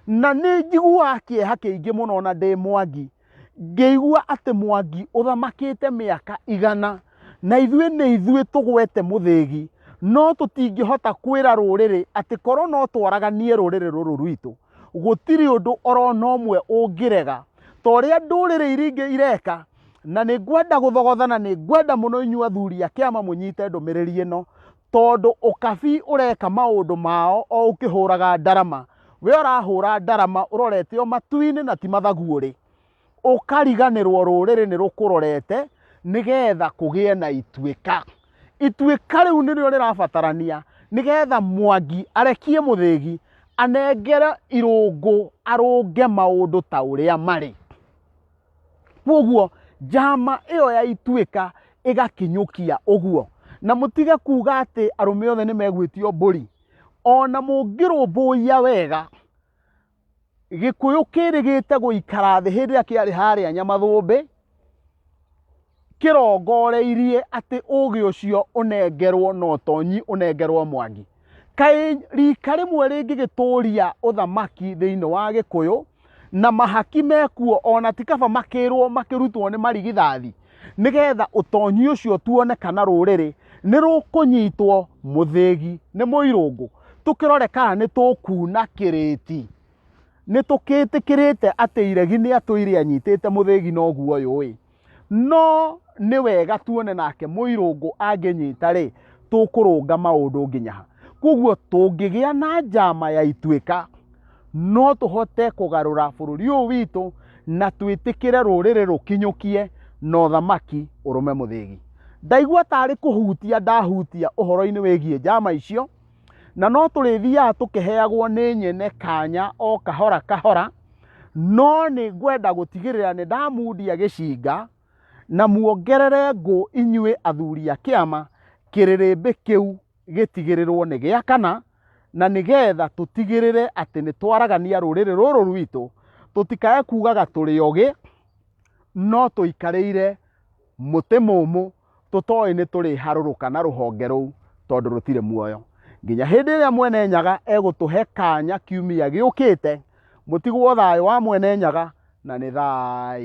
Speaker 1: na nĩ njiguaga kĩeha kĩingĩ mũno na ndĩ mwangi ngĩigua atĩ mwangi ũthamakĩte mĩaka igana na ithuĩ nĩ ithuĩ tũgwete mũthĩgi no tũtingĩhota kwĩra rũrĩrĩ atĩ korwo no twaraganie rũrĩrĩ rũrũ rwitũ gũtirĩ ũndũ orona ũmwe ũngĩrega ta ũrĩa ndũrĩrĩ iria ingĩ ireka na nĩ ngwenda gũthogothana nĩ ngwenda mũno inyuĩ athuri a kĩama mũnyite ndũmĩrĩri ĩno tondũ ũkabi ũreka maũndũ mao o ũkĩhũraga ndarama we ũrahũra ndarama ũrorete o matu-inĩ na ti mathaguorĩ ũkariganĩrwo rũrĩrĩ nĩ rũkũrorete nĩgetha kũgĩe na ituĩka ituĩka rĩu nĩrĩo rĩrabatarania nĩgetha mwangi arekie mũthĩgi anengere irũngũ arũnge maũndũ ta ũrĩa marĩ koguo njama ĩyo ya ituĩka ĩgakinyũkia ũguo na mũtige kuga atĩ arũme othe nĩ megwĩtio mbũri ona mũngĩrũmbũiya wega gĩkũyũ kĩrĩgĩte gũikara thĩ hĩndĩ ĩrĩa kĩarĩ harĩa nyamathũmbĩ kĩrongoreirie atĩ ũgĩ ũcio ũnengerwo na ũtonyi ũnengerwo mwangi kaĩ rika rĩmwe rĩngĩgĩtũria ũthamaki thĩinĩ wa gĩkũyũ na mahaki mekuo ona ti kaba makĩrwo makĩrutwo nĩ marigithathi nĩgetha ũtonyi ũcio tuone kana rũrĩrĩ nĩ rũkũnyitwo mũthĩgi nĩ mũirũngũ tũkĩrore kana nĩ tũkuna kĩrĩti nĩ tũkĩtĩkĩrĩte atĩ iregi nĩ atũire anyitĩte mũthĩgi noguo yũĩ no nĩ wega tuone nake mũirũngũ angĩnyita rĩ tũkũrũnga maũndũ nginya ha koguo tũngĩgĩa na njama ya ituĩka no tũhote kũgarũra bũrũri ũyũ witũ na twĩtĩkĩre rũrĩrĩ rũkinyũkie na ũthamaki ũrũme mũthĩgi ndaigua tarĩ kũhutia ndahutia ũhoro-inĩ wĩgiĩ njama icio na no tũrĩthiaga tũkĩheagwo nĩ nyene kanya o kahora kahora no nĩ ngwenda gũtigĩrĩra nĩ ndamundia gĩcinga na muongerere ngũ inyuĩ athuri a kĩama kĩrĩrĩmbĩ kĩu gĩtigĩrĩrwo nĩ gĩa kana na nĩgetha tũtigĩrĩre atĩ nĩ twaragania rũrĩrĩ rũrũ rwitũ tũtikae kugaga tũrĩ ogĩ no tũikarĩire mũtĩ mũmũ tũtoĩ nĩ tũrĩharũrũka na rũhonge rũu tondũ rũtirĩ muoyo nginya hĩndĩ ĩrĩa mwene nyaga egũtũhe kanya kiumia gĩũkĩte mũtigwo thayũ wa mwene nyaga na nĩ thai